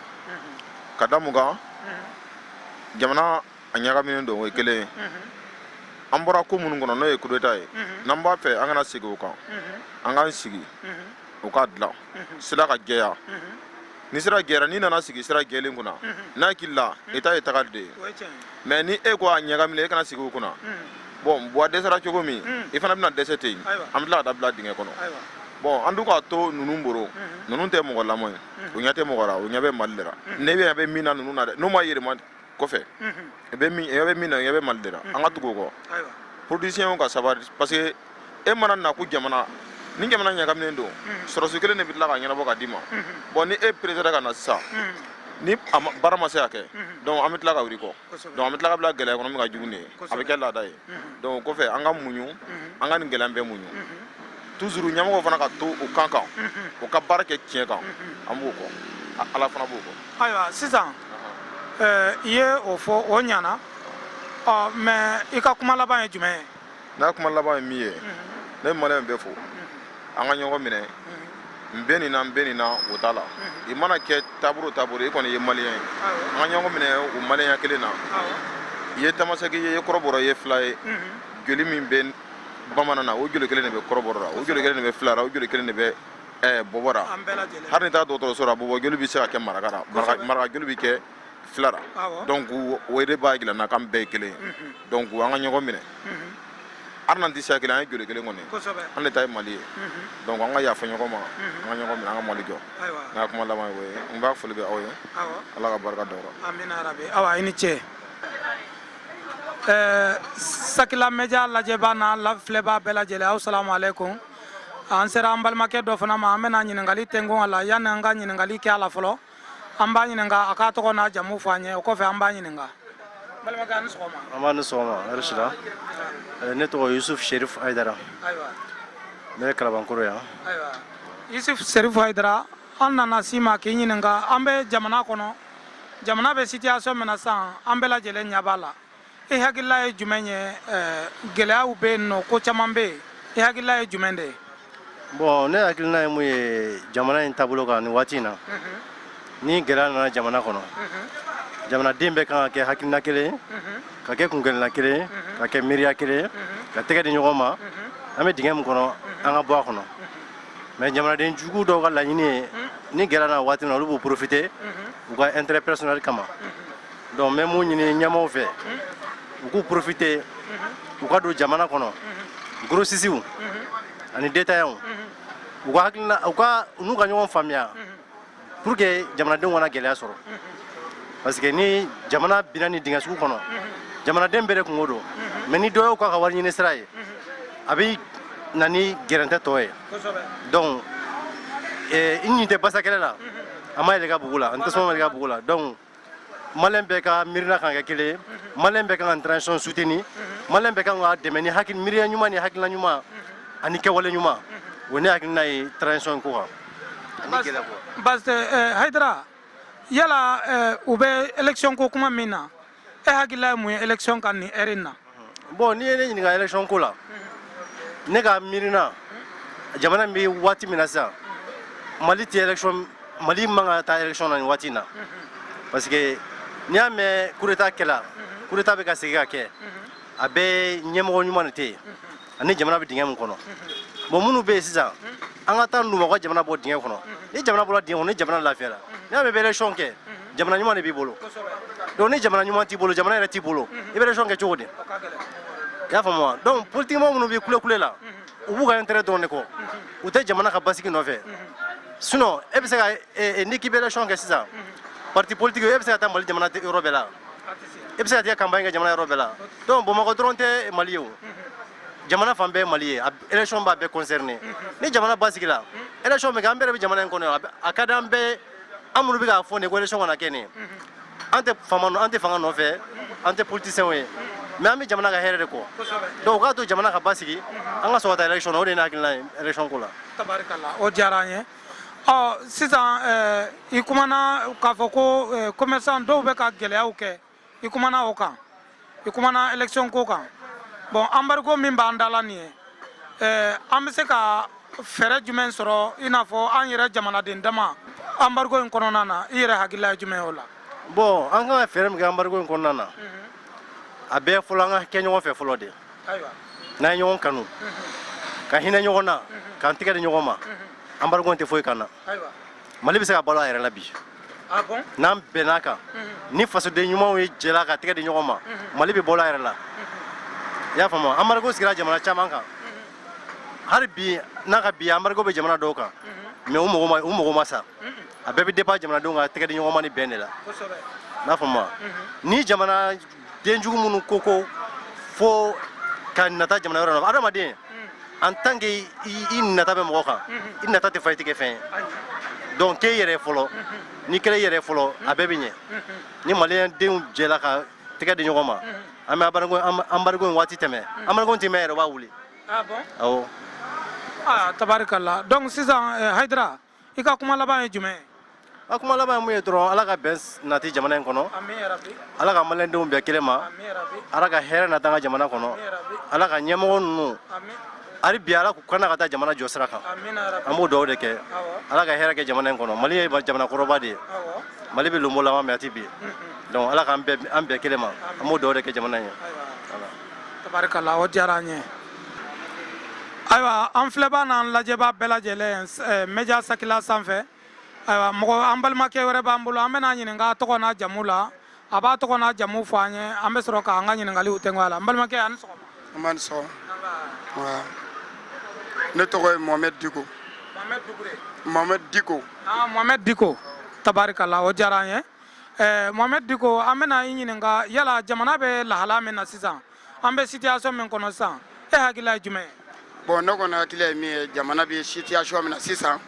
ka da mun kan. jamana a ɲagaminen don o ye kelen ye. an bɔra ko minnu kɔnɔ n'o ye kudeta ye. n'an b'a fɛ an kana segin o kan. an k'an sigi. u k'a dilan. sira ka jɛya. ni sira gɛra n'i nana sigi sira gɛlen kunna n hakili la i ta ye tagali de ye mais ni e ko a ɲagaminen e ka na sigi o kunna bon buwa dɛsɛra cogo min i fana bɛna dɛsɛ ten yen an bɛ tila ka taa bila dingɛ kɔnɔ bon an dun k'a to ninnu bolo ninnu tɛ mɔgɔ la mɔgɔ ye u ɲɛ tɛ mɔgɔ la u ɲɛ bɛ mali de la ne ɲɛ bɛ min na ninnu na dɛ n'u ma yɛlɛma kɔfɛ i bɛ min i bɛ min na i bɛ mali de la an ka tugu u kɔ politisiyɛnw ka sabali parce que e mana na ko jamana ni jamana ɲagaminen don sɔrɔdasi kelen de bɛ tila k'a ɲɛnabɔ k'a d'i ma bon ni e peresera ka na sisan ni baara ma se ka kɛ donc an bɛ tila ka wuli i kɔ donc an bɛ tila ka bila gɛlɛya kɔnɔ min ka jugu nin ye a bɛ kɛ laada ye donc kɔfɛ an ka muɲu an ka nin gɛlɛya bɛɛ muɲu toujours ɲamɔgɔw fana ka to u kan kan u ka baara kɛ tiɲɛ kan an b'u kɔ ala fana b'u kɔ ayiwa sisan i ye o fɔ o ɲana mais i ka kuma laban ye jumɛn ye n ka kuma laban ye min ye ne bɛ maliyɛn bɛɛ fo an ka ɲɔgɔn minɛ n bɛ nin na n bɛ nin na o t'a la i mana kɛ taabolo o taabolo i kɔni ye maliyɛn ye an ka ɲɔgɔn minɛ o maliyɛnya kelen na i ye tamasɛki ye i ye kɔrɔbɔrɔ ye fila ye joli min bɛ bamanan na o joli kelen de bɛ kɔrɔbɔrɔ la o joli kelen de bɛ fila la o joli kelen de bɛ ɛɛ bɔbɔ la hali n'i taa dɔgɔtɔrɔso la bɔbɔ joli bɛ se ka kɛ maraka la maraka joli bɛ kɛ fila la donc o de b'a jira an na k'an bɛɛ ye kelen ye donc an ka ɲɔgɔn minɛ hali n'an tɛ siya kelen an ye joli kelen kɔni an de ta ye mali ye donc an ka yafa ɲɔgɔn ma an ka ɲɔgɔn minɛ an ka mali jɔ n ka kuma laban ye o ye n b'a foli bɛ aw ye ala ka barika da aw la amina yarabi awa i ni ce ɛɛ sakila mediya lajɛbaa n'a lafilɛbaa bɛɛ lajɛlen aw salamu aleykum an sera an balimakɛ dɔ fana ma an bɛna ɲininkali tɛngu a la yanni an ka ɲininkali kɛ a la fɔlɔ an b'a ɲininka a k'a tɔgɔ n'a jamu fɔ an ye o kɔfɛ an b'a ɲininka n balimakɛ a ni sɔgɔma nba a ni sɔgɔma hɛrɛ sira ne tɔgɔ yusuf sherif hayidara ayiwa ne bɛ kalabankoro yan ayiwa yusuf sherif hayidara an nana s'i ma k'i ɲininka an bɛ jamana kɔnɔ jamana bɛ sitiyasɔn min na sisan an bɛɛ lajɛlen ɲɛ b'a la i hakilila ye jumɛn ye gɛlɛyaw bɛ yen nɔ ko caman bɛ yen i hakilila ye jumɛn de ye bon ne hakilina ye mun ye jamana in taabolo kan ni waati in na ni gɛlɛya nana jamana kɔnɔ jamanaden bɛɛ kan ka kɛ hakilina kelen ye ka kɛ kunkelenna kelen ye ka kɛ miiriya kelen ye ka tɛgɛ di ɲɔgɔn ma an bɛ dingɛ min kɔnɔ an ka bɔ a kɔnɔ Mais jamanaden jugu dɔw ka laɲini ye ni gɛlɛya nana waati min na olu b'u profiter u ka intérêt personnel kama donc n bɛ mun ɲini ɲɛmaaw fɛ u k'u profiter u ka don jamana kɔnɔ grossistew ani détaillantw u ka hakilina u n'u ka ɲɔgɔn faamuya pour que jamanadenw kana gɛlɛya sɔrɔ parce que ni jamana binna nin dingɛ sugu kɔnɔ jamanaden bɛɛ de kunko don mais ni dɔ y'o k'a ka wari ɲini sira ye a bɛ na ni gɛrɛntɛ tɔ ye donc i ɲin tɛ basakɛlɛ la a ma yɛlɛ i ka bugu la ni tasuma ma yɛlɛ i ka bugu la donc Maliyɛn bɛɛ ka miirina kan ka kɛ kelen ye, unhun, Maliyɛn bɛɛ ka kan ka transition soutenir, unhun, Maliyɛn bɛɛ ka kan k'a dɛmɛ ni hakili miiriya ɲuman ni hakilina ɲuman, unhun, ani kɛwale ɲuman, unhun, o ne hakilina ye transition ko kan. Basi tɛ ɛɛ Hayidara, yala ɛɛ u bɛ election ko kuma min na, e hakilila ye mun ye election kan nin heure in na? bon n'i ye ne ɲininka election ko la ne ka miirina jamana bɛ waati min na sisan mali tɛ election mali man ka taa election na nin waati in na parce que n'i y'a mɛn coup d'État kɛla coup d'État bɛ ka segin ka kɛ a bɛɛ ɲɛmɔgɔ ɲuman de tɛ yen ani jamana bɛ dingɛ min kɔnɔ bon minnu bɛ yen sisan an ka taa ninnu ma u ka jamana bɔ dingɛ kɔnɔ ni jamana bɔra dingɛ kɔnɔ ni jamana lafiyara n'i y'a mɛn i bɛ élection kɛ jamana ɲuman de b'i bolo donc ni jamana ɲuman t'i bolo jamana yɛrɛ t'i bolo i bɛ élection kɛ cogo di i y'a faamu wa donc politikimɔgɔ minnu bɛ kulekule la u b'u ka intérêt dɔrɔn de kɔ u tɛ jamana ka basigi nɔfɛ sinon e bɛ se ka e, e, n'i k'i bɛ élection kɛ sisan parti politique e bɛ se ka taa mali jamana yɔrɔ bɛɛ la i bɛ se ka taga campagne kɛ jamana yɔrɔ bɛɛ la donc bamakɔ dɔrɔn tɛ mali ye o jamana fan bɛɛ mali ye élection b'a bɛɛ concerné ni jamana basigila élection bɛ kɛ an bɛɛ de bɛ jamana in kɔnɔ a ka di an bɛɛ an minnu bɛ k'a fɔ nin ko élection kana kɛ nin an tɛ fanga an tɛ fanga nɔfɛ an tɛ politiciens ye mais an bɛ jamana ka hɛrɛ de kɔ donc u k'a to jamana ka basigi an ka sɔrɔ ka taa élection na o de ye ne hakilina ye élection ko la tabarikala o diyara an ye ɔ sisan eh, i kumana k'a fɔ ko eh, commerçant dɔw bɛ ka gɛlɛyaw kɛ i kumana o kan i kumana élection ko kan bon embargo min b'an da la nin ye eh, an bɛ se ka fɛɛrɛ jumɛn sɔrɔ i n'a fɔ an yɛrɛ jamanaden dama embargo in kɔnɔna na i yɛrɛ hakilila ye jumɛn ye o la bon an kan ka fɛɛrɛ min kɛ embargo in kɔnɔna na a bɛɛ fɔlɔ an ka kɛ ɲɔgɔn fɛ fɔlɔ de ayiwa n'an ye ɲɔgɔn kanu ka hinɛ ɲɔgɔn na k'an tɛgɛ di ɲɔgɔn ma anbariko in tɛ foyi k'an na ayiwa mali bɛ se ka balo a yɛrɛ la bi ah bon n'an bɛnn'a kan ni fasoden ɲumanw ye jɛla ka tɛgɛ di ɲɔgɔn ma mali bɛ balo a yɛrɛ la i y'a faamu anbariko sigira jamana caman kan hali bi n'a ka bi anbariko bɛ jamana dɔw kan mɛ u mago ma u mago ma sa a bɛɛ bɛ dépend jamanadenw ka tɛgɛ di ɲɔgɔn ma ni bɛn de la kosɛbɛ n'a faamu ni jamana denjugu minnu ko ko fo ka nata jamana wɛrɛ la adamaden en tant que i nata bɛ mɔgɔ kan i nata tɛ fa i tɛgɛ fɛn ye donc kɛ i yɛrɛ fɔlɔ n'i kɛra i yɛrɛ fɔlɔ a bɛɛ bɛ ɲɛ ni maliyɛn denw jɛla ka tɛgɛ di ɲɔgɔn ma an bɛ anbargo in waati tɛmɛ anbargo in tɛ mɛɛn yɛrɛ u b'a wuli awɔ tabarikala donc sisan hayidara i ka kuma laban ye jumɛn ye a kuma laban ye mun ye dɔrɔn ala ka bɛn nati jamana in kɔnɔ ala ka maliyɛndenw bɛn kelen ma ala ka hɛrɛ nati an ka jamana kɔnɔ ala ka ɲɛmɔgɔ ninnu hali bi ala k'u kana ka taa jamana jɔ sira kan an b'o dugawu de kɛ ala ka hɛrɛ kɛ jamana in kɔnɔ mali ye jamana kɔrɔba de ye mali bɛ lonbolanba mɛ a tɛ bin donc ala k'an bɛn kelen ma an b'o dugawu de kɛ jamana in ye tabarikala o diyara an ye ayiwa an filɛbaa n'an lajɛbaa bɛɛ lajɛlen eh, media sakila sanfɛ ayiwa mɔgɔ an balimakɛ wɛrɛ b'an bolo an bɛn'a ɲininka a tɔgɔ n'a jamu la a b'a tɔgɔ n'a jamu fɔ an ye an bɛ sɔrɔ k'an ka ɲininkaliw tɛŋɔ a la n balimakɛ a ni sɔgɔma nba a ni sɔgɔma Wa. ne tɔgɔ ye mohamɛd diko mohamɛd dukure mohamɛd diko Ah, Mohamed Diko tabarikala o diyara an ye eh, Mohamed Diko an bɛna i ɲininka yala jamana bɛ lahala min na sisan an bɛ sitiyasɔn min kɔnɔ sisan e hakilila ye jumɛn ye bɔn ne kɔni hakilila ye min ye jamana bɛ sitiyasɔn min na sisan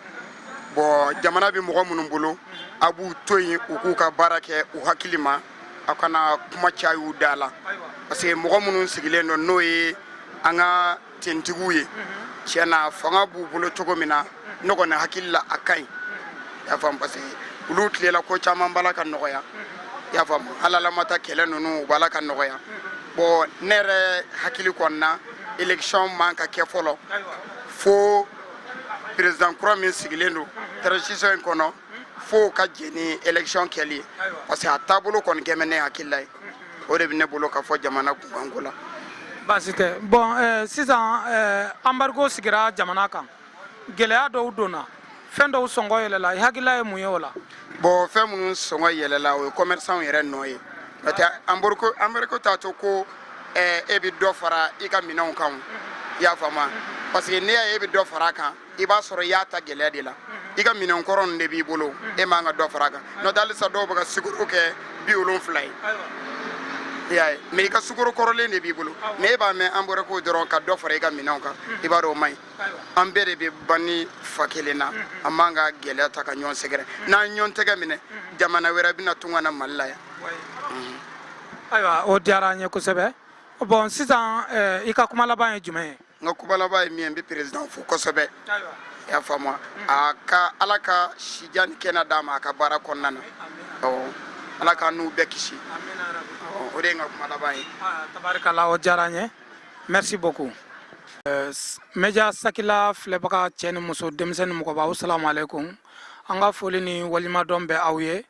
bɔn jamana bɛ mɔgɔ minnu bolo a b'u to yen u k'u ka baara kɛ u hakili ma aw kana kuma cay'u da la parce que mɔgɔ minnu sigilen don n'o ye an ka tɔntigiw ye tiɲɛ na fanga b'u bolo cogo min na ne kɔni hakili la a ka ɲi i y'a faamu parce que olu tile la ko caman b'a la ka nɔgɔya i y'a faamu halalamata kɛlɛ ninnu o b'a la ka nɔgɔya bɔn ne yɛrɛ hakili kɔni na élection man ka kɛ fɔlɔ fo président kura min sigilen don transition in kɔnɔ fo o ka jɛn ni élection kɛli ye parce que a taabolo kɔni kɛ ne hakilila ye o de bɛ ne bolo ka fɔ jamana kunkanko la baasi tɛ bɔn eh, sisan eh, anbargo sigira jamana kan gɛlɛya dɔw donna fɛn dɔw sɔngɔ yɛlɛla i hakilila ye mun ye o la bɔn fɛn minnu sɔngɔ yɛlɛla o ye commerçantw yɛrɛ nɔ ye n'o tɛ anbargo anbargo t'a to ko eh, e bɛ dɔ fara i ka minɛnw kan o. i y'a faamu wa parce que n'i y'a ye e bɛ dɔ fara a kan i b'a sɔrɔ i y'a ta gɛlɛya de la i ka minɛn kɔrɔ de b'i bolo e man ka dɔ fara kan n'o tɛ halisa dɔw bɛ ka sukoro kɛ bi wolonfila ye i y'a ye mɛ i ka sukoro kɔrɔlen de b'i bolo mɛ e b'a mɛn embargo dɔrɔn ka dɔ fara i ka minɛnw kan i b'a dɔn o man ɲi an bɛɛ de bɛ ba ni fa kelen na an man ka gɛlɛya ta ka ɲɔgɔn sɛgɛrɛ n'an ɲɔgɔn tɛgɛ minɛ jamana wɛrɛ bɛna tun ka na mali la yan ayiwa o diyara an ye kosɛbɛ bɔn sisan i ka kuma laban ye jumɛn ye n ka kuma laban ye min ye n bɛ président fo kosɛbɛ i y'a faamu a ka ala ka sijan ni kɛnɛ d'a ma a ka baara kɔnɔna na ala k'anw bɛɛ kisi o de ye n ka kuma laban ye tabarikala o diyara an ye merci beaucoup euh, media sakila filɛbaga cɛ ni muso denmisɛn ni mɔgɔba aw salamu alaikum an ka foli ni waleɲumandɔn bɛ aw ye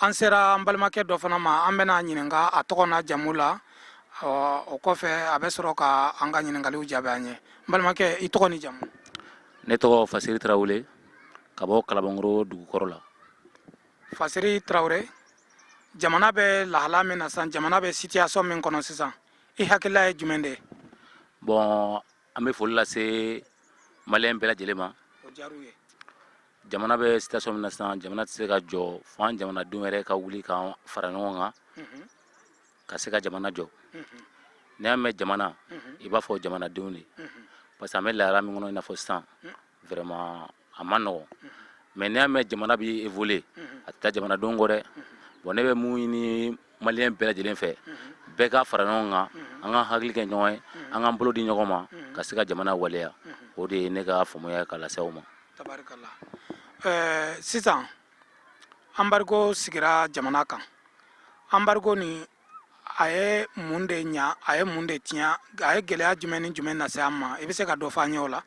an sera an balimakɛ dɔ fana ma an bɛna ɲininka a tɔgɔ n'a jamu la o kɔfɛ a bɛ sɔrɔ ka an ka ɲininkaliw jaabi an ye n balimakɛ i tɔgɔ ni jamu ne tɔgɔ fasiri tarawele ka bɔ kalabankɔrɔ dugukɔrɔ la fasiri tarawele jamana bɛ lahala min na sisan jamana bɛ situation min kɔnɔ sisan i hakilila ye jumɛn de bɔn an bɛ foli lase maliyɛn bɛɛ lajɛlen ma jamana bɛ situation min na sisan jamana tɛ se ka jɔ fo an jamanadenw yɛrɛ ka wuli ka fara ɲɔgɔn kan ka se ka jamana jɔ n'i y'a mɛn jamana i b'a fɔ jamanadenw de parce que an bɛ lahala min kɔnɔ i n'a fɔ sisan vraiment a man nɔgɔ mɛ n'i y'a mɛn jamana bɛ évoluer a tɛ taa jamanadenw kɔ dɛ bɔn ne bɛ mun ɲini maliyɛn bɛɛ lajɛlen fɛ bɛɛ ka fara ɲɔgɔn kan an ka hakili kɛ ɲɔgɔn ye an k'an bolo di ɲɔgɔn ma ka se ka jamana waleya o de ye ne ka faamuya ka lase aw ma tabarikala sisan embargo sigira jamana kan embargo ni a ye mun de ɲɛ a ye mun de tiɲɛ a ye gɛlɛya jumɛn ni jumɛn lase an ma i bɛ se ka dɔ fɔ an ye o la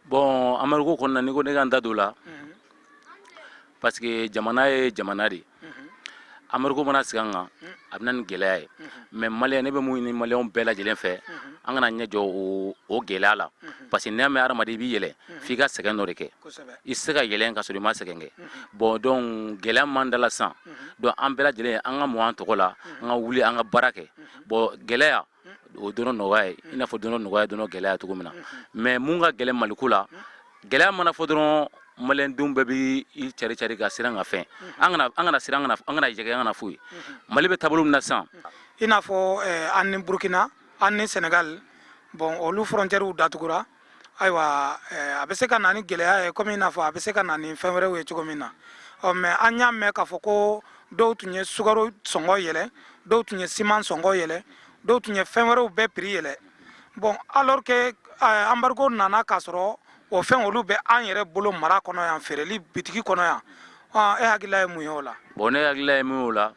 bɔn embargo kɔnɔna n'i ko ne ka n da don o la parce que jamana ye jamana de ye embargo mana sigi an kan a bɛ na ni gɛlɛya ye mɛ mali ne bɛ mun ɲini maliyɛn bɛɛ lajɛlen fɛ an kana ɲɛ jɔ o gɛlɛya la parce que n'i y'a mɛn hadamaden i b'i yɛlɛ f'i ka sɛgɛn dɔ de kɛ i tɛ se ka yɛlɛ ka sɔrɔ i ma sɛgɛn kɛ bɔn donc gɛlɛya man dala san donc an bɛɛ lajɛlen an ka mun an tɔgɔ la an ka wuli an ka baara kɛ bɔn gɛlɛya o don nɔgɔya ye i n'a fɔ don nɔgɔya dɔn gɛlɛya cogo min na mɛ mun ka gɛlɛn maliko la gɛlɛya mana fɔ dɔrɔn malidenw bɛɛ bɛ i cari cari ka siran ka fɛn an kana an kana siran an kana jɛ an kana foyi ye mali bɛ taabolo min na sisan i n'a fɔ an ni burukina an ni sɛnɛgali bɔn olu frontièrew datugura ayiwa a bɛ se ka na ni gɛlɛya ye kɔmi i n'a fɔ a bɛ se ka na ni fɛn wɛrɛw ye cogo min na ɔ mɛ an y'a mɛn k'a fɔ ko dɔw tun ye sukaro sɔngɔ yɛlɛ dɔw tun ye siman sɔngɔ yɛlɛ dɔw tun ye fɛn wɛrɛw bɛɛ piri yɛlɛ bɔn alors que embargo nana k'a sɔrɔ o fɛn olu bɛ an yɛrɛ bolo mara kɔnɔ yan feereli bitigi kɔnɔ yan e hakilila ye mun ye o la bɔn ne hakilila ye min ye o la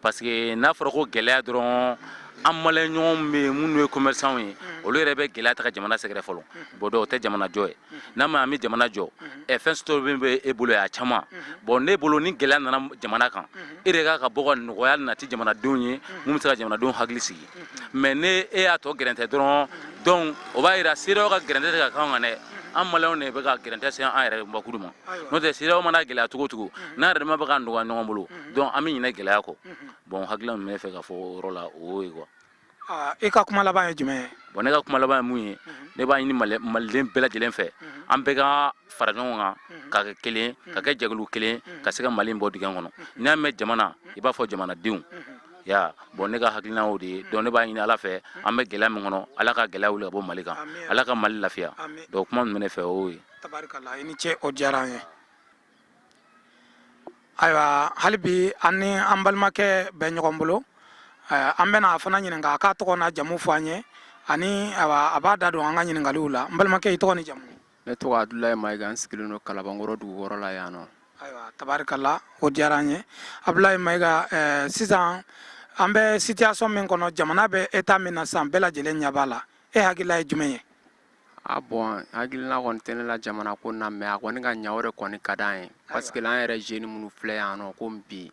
Parce que n'a fɔra ko gɛlɛya dɔrɔn an maliyɛn ɲɔgɔn bɛ minnu ye kɔmɛrisanw ye olu yɛrɛ bɛ gɛlɛya ta ka jamana sɛgɛrɛ fɔlɔ bɔn donc o tɛ jamana jɔ ye n'a ma an bɛ jamana jɔ ɛ fɛn sɔrɔ min bɛ e bolo a caman bɔn ne bolo ni gɛlɛya nana jamana kan e de ka kan ka bɔ ka nɔgɔya nati jamanadenw ye min bɛ se ka jamanadenw hakili sigi mɛ ni e y'a tɔ gɛrɛntɛ dɔrɔn donc o b'a yira CEDEAO ka gɛrɛntɛ tɛ ka k'an kan dɛ an maliyɛnw de bɛ ka gɛrɛntɛ se an yɛrɛ bakuru ma n'o tɛ CEDEAO mana gɛlɛya cogo o cogo n'an yɛrɛ ma bɛ ka nɔgɔya ɲɔgɔn bolo donc an bɛ ɲinɛ gɛlɛya kɔ bon hakilila min bɛ fɛ ka fɔ o yɔrɔ la o y'o ye quoi Ah, e ka kuma laban ye jumɛn ye bon ne ka kuma laban ye mun ye ne b'a ɲini Mali- maliden bɛɛ lajɛlen fɛ an bɛɛ ka fara ɲɔgɔn kan ka kɛ kelen ka kɛ jɛkulu kelen ka se ka mali in bɔ dingɛ kɔnɔ n'i y'a mɛn jamana i b'a fɔ jamanadenw ya bɔn ne ka hakilina o de ye donc ne b'a ɲini ala fɛ an bɛ gɛlɛya min kɔnɔ ala ka gɛlɛya wuli ka bɔ mali kan ala ka mali lafiya donc kuma min tun bɛ ne fɛ o ye tabarikala i ni ce o diyara an ye ayiwa hali bi an ni an balimakɛ bɛ ɲɔgɔn bolo an bɛna a fana ɲininka a k'a tɔgɔ n'a jamu fɔ an ye ani a b'a da don an ka ɲininkaliw la n balimakɛ i tɔgɔ ni jamu ne tɔgɔ abudulayi mayiga n sigilen don kalabankɔrɔ dugukɔrɔ la yan nɔ ayiwa tabarikala o diyara an ye abudulayi mayiga eh, sisan an bɛ situation min kɔnɔ jamana bɛ eta min na sisan bɛɛ lajɛlen ɲɛ b'a la e hakilila ye jumɛn ye a bɔn hakilina kɔni tɛ ne la jamana ko na mɛ a kɔni ka ɲa o de kɔni ka d'an ye paske la an yɛrɛ zeni minnu filɛ yan nɔ komi bi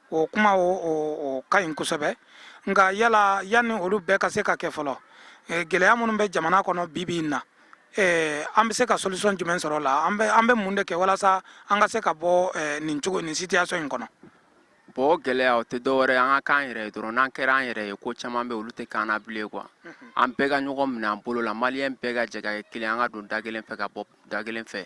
o kuma o ka ɲi kosɛbɛ nka yala yanni olu bɛɛ ka se ka kɛ fɔlɔ gɛlɛya minnu bɛ jamana kɔnɔ bibi in na an bɛ se ka solution jumɛn sɔrɔ o la an bɛ mun de kɛ walasa an ka se ka bɔ nin cogo nin situation in kɔnɔ bɔn gɛlɛya o tɛ dɔwɛrɛ an ka k'an yɛrɛ ye dɔrɔn n'an kɛra an yɛrɛ ye ko caman bɛ olu tɛ k'an na bilen quoi an bɛɛ ka ɲɔgɔn minɛ an bolo la maliyɛn bɛɛ ka jɛ ka kɛ kelen an ka don da kelen fɛ ka bɔ da kelen fɛ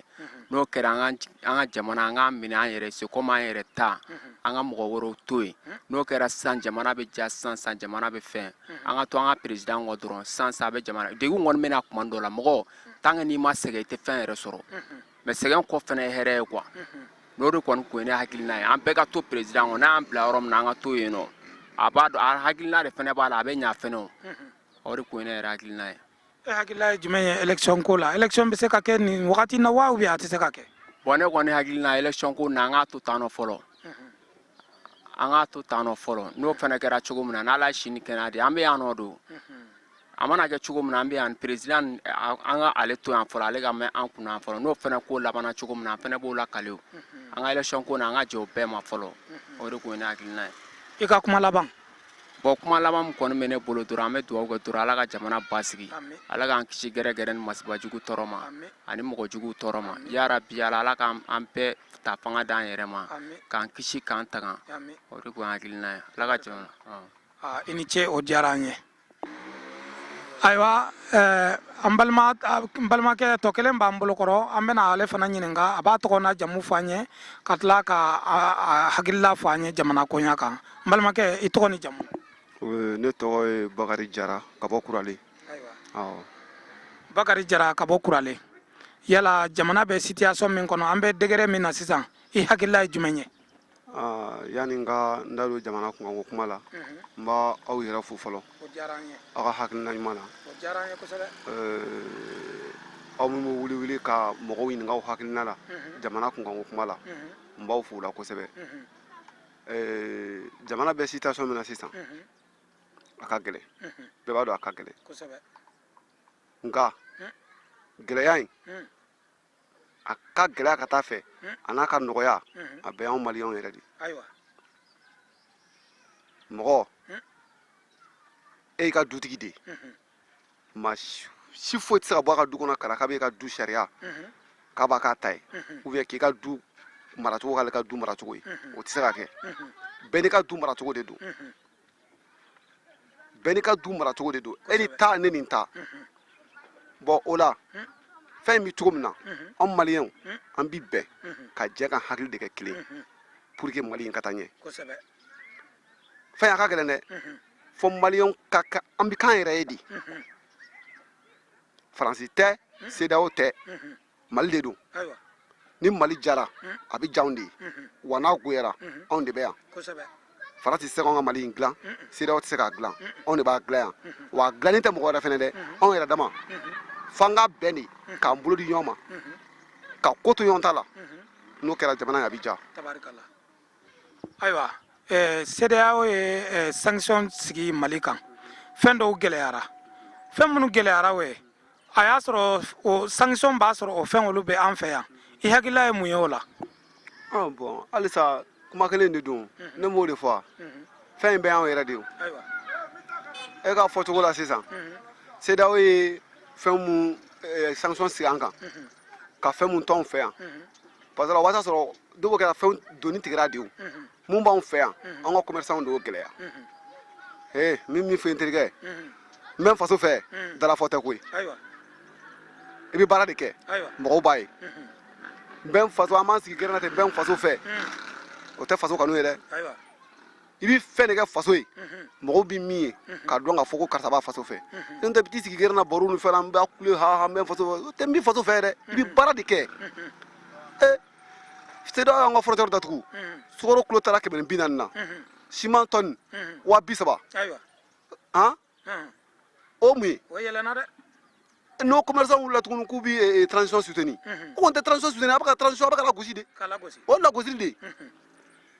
n'o kɛra an ka jamana an k'a minɛ an yɛrɛ c'est comme an yɛrɛ ta an ka mɔgɔ wɛrɛw to yen n'o kɛra sisan jamana bɛ diya sisan jamana bɛ fɛn an ka to an ka peresidan kɔ dɔrɔn sisan a bɛ jamana degun kɔni bɛ na tuma dɔ la mɔgɔ tant que n'i ma sɛgɛn i tɛ fɛn yɛrɛ sɔrɔ mɛ sɛgɛn kɔ fana ye hɛrɛ ye quoi n'o de kɔni ko ne hakilina ye an bɛɛ ka to peresidan kɔ n'an bila yɔrɔ min na an ka to yen nɔ a b'a dɔn a hakilina de fana b'a la a bɛ ɲa fɛnɛ o de ko ne yɛrɛ hakilina ye E hakilila ye jumɛn ye élection ko la élection bɛ se ka kɛ nin wagati in na wa ou bien a tɛ se ka kɛ. Bon ne kɔni hakili na élection ko na an k'a to tan nɔ fɔlɔ an k'a to tan nɔ fɔlɔ n'o fana kɛra cogo min na n'Ala ye si ni kɛnɛya di an bɛ yan nɔ don a mana kɛ cogo min na an bɛ yan président nin a- an ka ale to yan fɔlɔ ale ka mɛn an kunna yan fɔlɔ n'o fana ko labanna cogo min na an fana b'o lakale o an ka élection ko na an ka jɛ o bɛɛ ma fɔlɔ o de tun ye ne hakilina ye. I ka kuma laban. bon kuma laban min kɔni bɛ ne bolo dɔrɔn an bɛ dugawu kɛ dɔrɔn ala ka jamana basigi ala k'an kisi gɛrɛgɛrɛ ni masibajugu tɔɔrɔ ma ani mɔgɔjugu tɔɔrɔ ma yarabi ala ala k'an an bɛɛ ta fanga d'an yɛrɛ ma k'an kisi k'an tanga o de kun ye hakilina ye ala ka jamana i ni ce o diyara an ye ayiwa eh, an balima n balimakɛ tɔ kelen b'an bolo kɔrɔ an bɛna ale fana ɲininka a b'a tɔgɔ n'a jamu fɔ an ye ka tila k'a hakilila fɔ an ye jamana koɲa kan n balimakɛ i tɔgɔ ni jamu eh, ne tɔgɔ ye bakari jara ka bɔ kurale bakari jara ka bɔ kurale yala jamana bɛ situation min kɔnɔ an bɛ degré min na sisan i hakilila ye jumɛn ye Yanni n ka n da don jamana kunkanko kuma la, n b'aw yɛrɛ fo fɔlɔ, aw ka hakilina ɲuman na, aw minnu bɛ wuli wuli ka mɔgɔw ɲininka u hakilina la jamana kunkanko kuma la, n b'aw fo o la kosɛbɛ, jamana bɛ situation min na sisan, a ka gɛlɛn, bɛɛ b'a dɔn a ka gɛlɛn, nka gɛlɛya in a ka gɛlɛya ka taa fɛ a n'a ka nɔgɔya a bɛɛ y'anw maliyɛnw yɛrɛ de mɔgɔ e y'i ka dutigi de maa si foyi tɛ se ka bɔ a ka du kɔnɔ ka na k'a bɛ e ka du sariya k'a b'a k'a ta ye ou bien k'i ka du maracogo k'ale ka du maracogo ye o tɛ se ka kɛ bɛɛ n'i ka du maracogo de don bɛɛ n'i ka du maracogo de don e n'i ta ne ni n ta bon o la fɛn in bɛ cogo min na anw maliyɛnw an bi bɛn ka jɛ k'an hakili de kɛ kelen pour que mali in ka taa ɲɛ fɛ a ka gɛlɛn dɛ fo maliyɛnw ka ka an bɛ k'an yɛrɛ ye de faransi tɛ CEDEAO tɛ mali de don ni mali jara hmm. a bɛ ja anw de ye hmm. wa n'a goyara hmm. anw de bɛ yan faransi tɛ se ka anw ka mali in dilan CEDEAO tɛ se k'a dilan anw de b'a dilan yan wa a dilannen tɛ mɔgɔ wɛrɛ fɛnɛ dɛ anw yɛrɛ dama f'an ka bɛn de k'an bolo di ɲɔgɔn ma ka ko to ɲɔgɔn ta la n'o kɛra jamana in a bɛ ja ayiwa eh, CEDEAO ye eh, sanction sigi Mali kan fɛn dɔw gɛlɛyara fɛn minnu gɛlɛyara o ye a y'a sɔrɔ o sanction b'a sɔrɔ o fɛn olu bɛ an fɛ yan i hakilila ye mun ye o la Ah, bon halisa kuma kelen de don ne m'o de fɔ fɛn in bɛɛ y'anw yɛrɛ de ye ayiwa e ka fɔcogo la sisan CEDEAO ye fɛn mun eh, sanction sigi an kan ka fɛn mun t'anw fɛ yan parce que o b'a sɔrɔ dɔw kɛra fɛnw donni tigɛra de o mun b'anw fɛ yan an ka commerçants de y'o gɛlɛya ee min min fɛ n terikɛ n bɛ n faso fɛ dalafɔ tɛ koyi i bɛ baara de kɛ mɔgɔw b'a ye n bɛ n faso an b'an sigi gɛrɛn na ten n bɛ n faso fɛ o tɛ faso kanu ye dɛ i bɛ fɛn de kɛ faso ye mɔgɔw bɛ min ye k'a dɔn k'a fɔ ko karisa b'a faso fɛ n'o tɛ i bɛ t'i sigi gɛrɛn na baro ni fɛn na n b'a kule ha ha n bɛ n faso fɛ o tɛ n bɛ faso fɛ dɛ i bɛ baara de kɛ ee CEDEAO y'an ka frontière datugu sukaro kilo taara kɛmɛ ni bi naani na siman tɔni wa bi saba han o mun ye n'o commerçant wulila tuguni k'u bi eh, eh, transition soutenir o kɔni tɛ transition soutenir a bɛ ka transition a bɛ ka lagosi de o lagosili de ye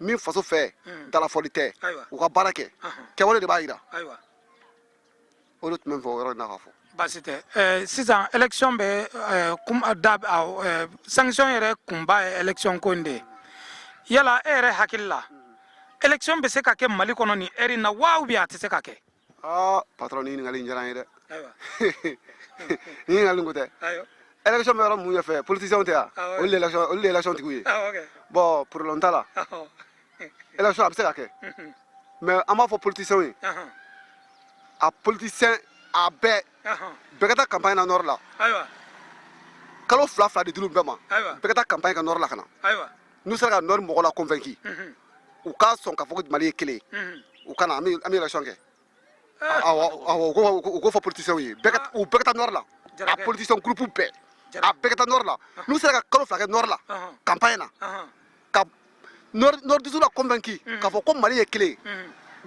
min faso fɛ hmm. dalafɔli tɛ u ka baara kɛ kɛwale de b'a jira o de tun bɛ n fɛ o yɔrɔ in na ka fɔ baasi tɛ eh, sisan élection bɛ eh, eh, da sanction yɛrɛ kunba ye élection ko in de ye yala e yɛrɛ hakili la élection bɛ se ka kɛ mali kɔnɔ nin heure in na wa ou bien a tɛ se ka kɛ aa patɔrɔn nin ɲininkali in diyara n ye dɛ ayiwa nin ɲininkali kɔ tɛ ayiwa élection bɛ yɔrɔ mun ɲɛfɛ politiciens tɛ yan Awɔ. olu de ye élection- olu de ye élection tigiw ye awɔ kɛ bɔn problème t'a la awɔ élection a bɛ se ka kɛ Mhm. mais an b'a fɔ politiciens ye Ahan. a politicien a bɛɛ Ahan. bɛɛ ka taa campagne na nord la ayiwa kalo fila fila de d'olu bɛɛ ma ayiwa bɛɛ ka taa campagne kɛ nord la ka na ayiwa n'u sera ka nord mɔgɔw la convaincu u ka sɔn k'a fɔ ko mali ye kelen u ka na an bɛ élection kɛ awɔ u k'o fɔ politiciens ye u bɛɛ ka taa nord la a politiciens groupe bɛɛ a bɛɛ ka taa nord la n'u sera ka kalo fila kɛ nord la campagne na ka nordistes la convaincu k'a fɔ ko mali ye kelen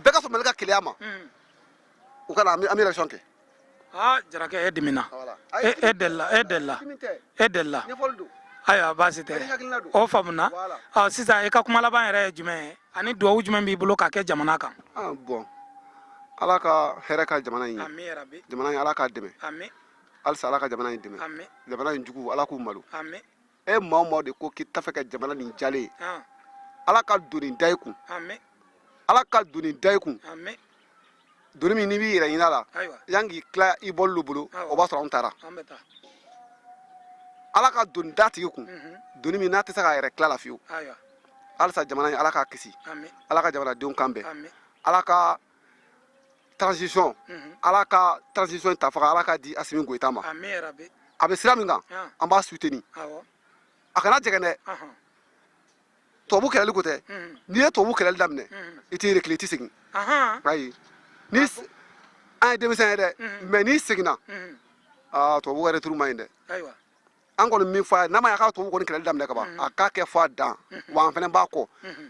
bɛɛ ka sɔn mali ka kelenya ma u ka na an bɛ élection kɛ Aa jarakɛ e dimina e e deli e deli e delila ayiwa baasi tɛ o faamuna sisan i ka kuma laban yɛrɛ ye jumɛn ye ani dugawu jumɛn b'i bolo k'a kɛ jamana kan bɔn ala ka hɛrɛ kɛ jamana in ye jamana in ala k'a dɛmɛ halisa ala ka jamana in dɛmɛ jamana in jugu ala k'u malo e maa o maa de ko k'i t'a fɛ ka jamana nin jalen ye ah, ala ka doni da i kun amen ala ka doni da i kun amen doni min n'i b'i yɛrɛ ɲin'a la ayiwa yan k'i tila i bɔlulu bolo Awɔ. o b'a sɔrɔ anw taara an bɛ taa ala ka doni da tigi kun Mhm. doni min n'a tɛ se k'a yɛrɛ til'a la fiyewu ayiwa halisa jamana in ala k'a kisi amen ala ka jamanadenw kan bɛn amen ala ka transition ala ka transition ta fanga ala k'a di asimi goyita ma a bɛ sira min kan an b'a soutenir a kana jɛgɛn dɛ tubabu kɛlɛli ko tɛ n'i ye tubabu kɛlɛli daminɛ i t'i reculer i tɛ segin ayi ni an ye denmisɛn ye dɛ mais n'i seginna tubabu ka retour man ɲi dɛ an kɔni min fɔ a ye n'a ma ɲɛ ka tubabu kɔni kɛlɛli daminɛ ka ban mm-hmm. a k'a kɛ fo a dan mm-hmm. wa an fana b'a kɔ mm-hmm.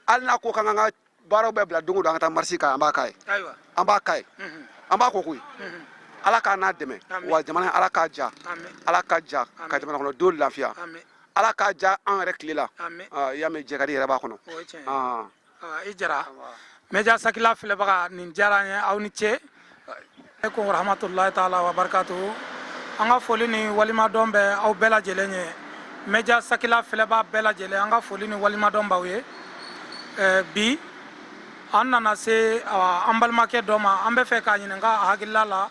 hali n'a ko k'an ka baaraw bɛɛ bila don o don an ka taa marche k'a ye an b'a k'a ye an b'a k'a ye an b'a kɔ koyi ala k'a n'a dɛmɛ wa jamana ala k'a ja ala k'a ja ka jamana kɔnɔdenw lafiya ala k'a ja an yɛrɛ tile la ah, i y'a mɛn jɛkadi yɛrɛ b'a kɔnɔ i jara média sakila filɛbaga nin diyara an ye aw ni ce aleykum warahmatulahi taala wa barakatuhu an ka foli ni waleɲumandɔn bɛ aw bɛɛ lajɛlen ye média sakila filɛbaa bɛɛ lajɛlen an ka foli ni waleɲumandɔn b'aw ye bi an nana se an balimakɛ dɔ ma an bɛ fɛ k'a ɲininka a hakilila la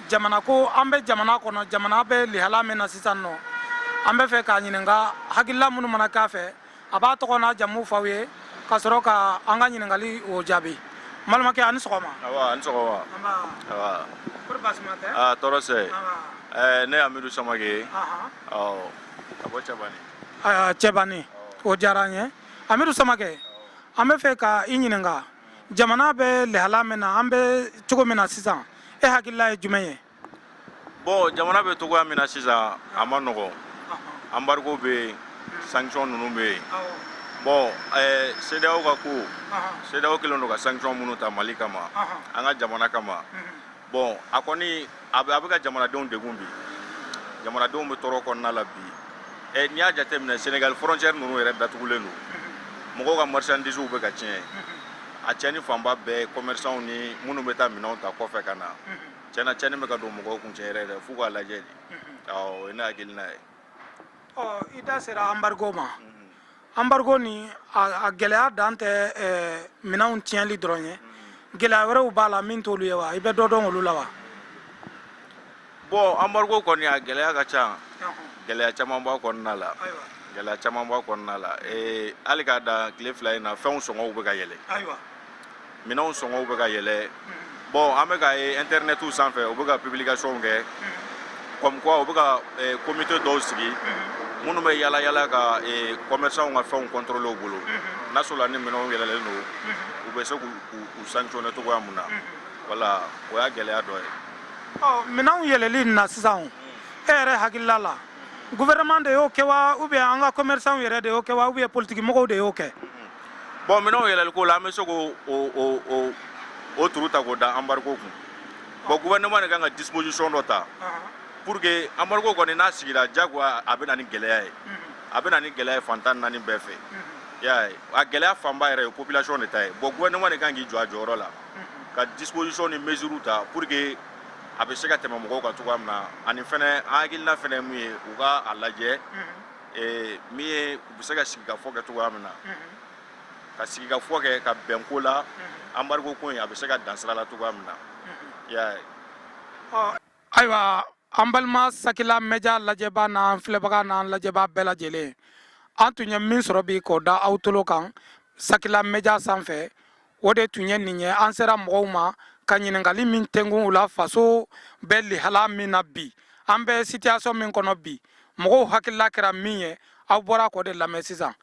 jamana ko an bɛ jamana kɔnɔ jamana bɛ lihala min na sisan nɔ an bɛ fɛ k'a ɲininka hakilila minnu mana k'a fɛ a b'a tɔgɔ n'a jamu fɔ aw ye ka sɔrɔ ka an ka ɲininkali o jaabi n balimakɛ a ni sɔgɔma a ni sɔgɔma kɔri baasi ma tɛ tɔɔrɔ tɛ ne y'amidu samakɛ ye ka bɔ cɛbani cɛbani o diyara an ye amidu samakɛ an bɛ fɛ ka i ɲininka jamana bɛ lahala min na an bɛ cogo min na sisan e hakilila ye jumɛn ye bɔn jamana bɛ cogoya min na sisan a man nɔgɔ embargo bɛ yen sanction ninnu bɛ yen bɔn sedaw ka ko sedaw kɛlen don ka sanction minnu ta mali kama an ka jamana kama bɔn a kɔni a bɛ ka jamanadenw degun bi jamanadenw bɛ tɔɔrɔ kɔnɔna la bi Eh, n'i y'a jateminɛ senegali frontière ninnu yɛrɛ datugulen don mɔgɔw ka marchandisew bɛ ka tiɲɛ a tiɲɛni fanba bɛɛ commerçants ni minnu bɛ taa minɛnw ta kɔfɛ ka na Tiɲɛna tiɲɛni bɛ ka don mɔgɔw kun cɛ yɛrɛ f'u k'a lajɛ de o ye ne hakilina ye i da sera embargo ma embargo ni a gɛlɛya dan tɛ minɛnw tiɲɛli dɔrɔn ye gɛlɛya wɛrɛw b'a la min t'olu ye wa i bɛ dɔ dɔn olu la wa bɔn embargo kɔni a gɛlɛya ka ca gɛlɛya caman b'a kɔnɔna la gɛlɛya caman b'a kɔnɔna la hali k'a da tile fila in na fɛnw sɔngɔw bɛ ka yɛlɛ Minɛnw sɔngɔw bɛ ka yɛlɛ bon an bɛ k'a ye internet sanfɛ u bɛ ka publication kɛ comme quoi u bɛ ka comité dɔw sigi minnu bɛ yala yala ka commerçants ka fɛnw contrôler u bolo n'a sɔrɔla ni minɛnw yɛlɛlen don u bɛ se k'u sanctionner cogoya min na voilà o y'a gɛlɛya dɔ ye. Ɔ minɛnw yɛlɛli nin na sisan e yɛrɛ hakilila la gouvernement de y'o kɛ wa ou bien an ka commerçants yɛrɛ de y'o kɛ wa ou bien politique mɔgɔw de y'o kɛ. bon minɛnw yɛlɛliko la an bɛ se k'o o o turu ta k'o da embargo kun bon gouvernement de kan ka disposition dɔ ta pour que embargo kɔni n'a sigira jagoya a bɛ na ni gɛlɛya ye a bɛ na ni gɛlɛya ye fan tan naani bɛɛ fɛ y'a ye a gɛlɛya fanba yɛrɛ ye population de ta ye bon gouvernement de kan k'i jɔ a jɔyɔrɔ la ka disposition ni mesure ta pour que a bɛ se ka tɛmɛ mɔgɔw kan cogoya min na ani fɛnɛ an hakilina fɛnɛ ye mun ye u ka a lajɛ ee min ye u bɛ se ka sigikafɔ kɛ cogoya min na ka sigikafɔ kɛ ka bɛn ko la embargo ko in a bɛ se ka dan sira la cogoya min na i y'a ye ayiwa an balima sakila média lajɛbaa n'an filɛbaga n'an lajɛbaa bɛɛ lajɛlen an tun ye min sɔrɔ bi k'o da aw tolo kan sakila média sanfɛ o de tun ye nin ye an sera mɔgɔw ma ka ɲininkali min tɛkun u la faso bɛ lihala min na bi an bɛ situation min kɔnɔ bi mɔgɔw hakilila kɛra min ye aw bɔra k'o de lamɛn sisan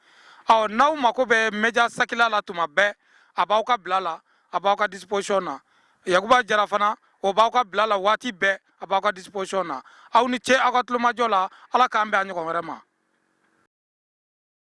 ɔ n'aw mako bɛ média sakila la tuma bɛɛ a b'aw ka bila la a b'aw ka disposition na yakuba jara fana o b'aw ka bila la waati bɛɛ a b'aw ka disposition na aw ni ce aw ka tulomajɔ la ala k'an bɛn a ɲɔgɔn wɛrɛ ma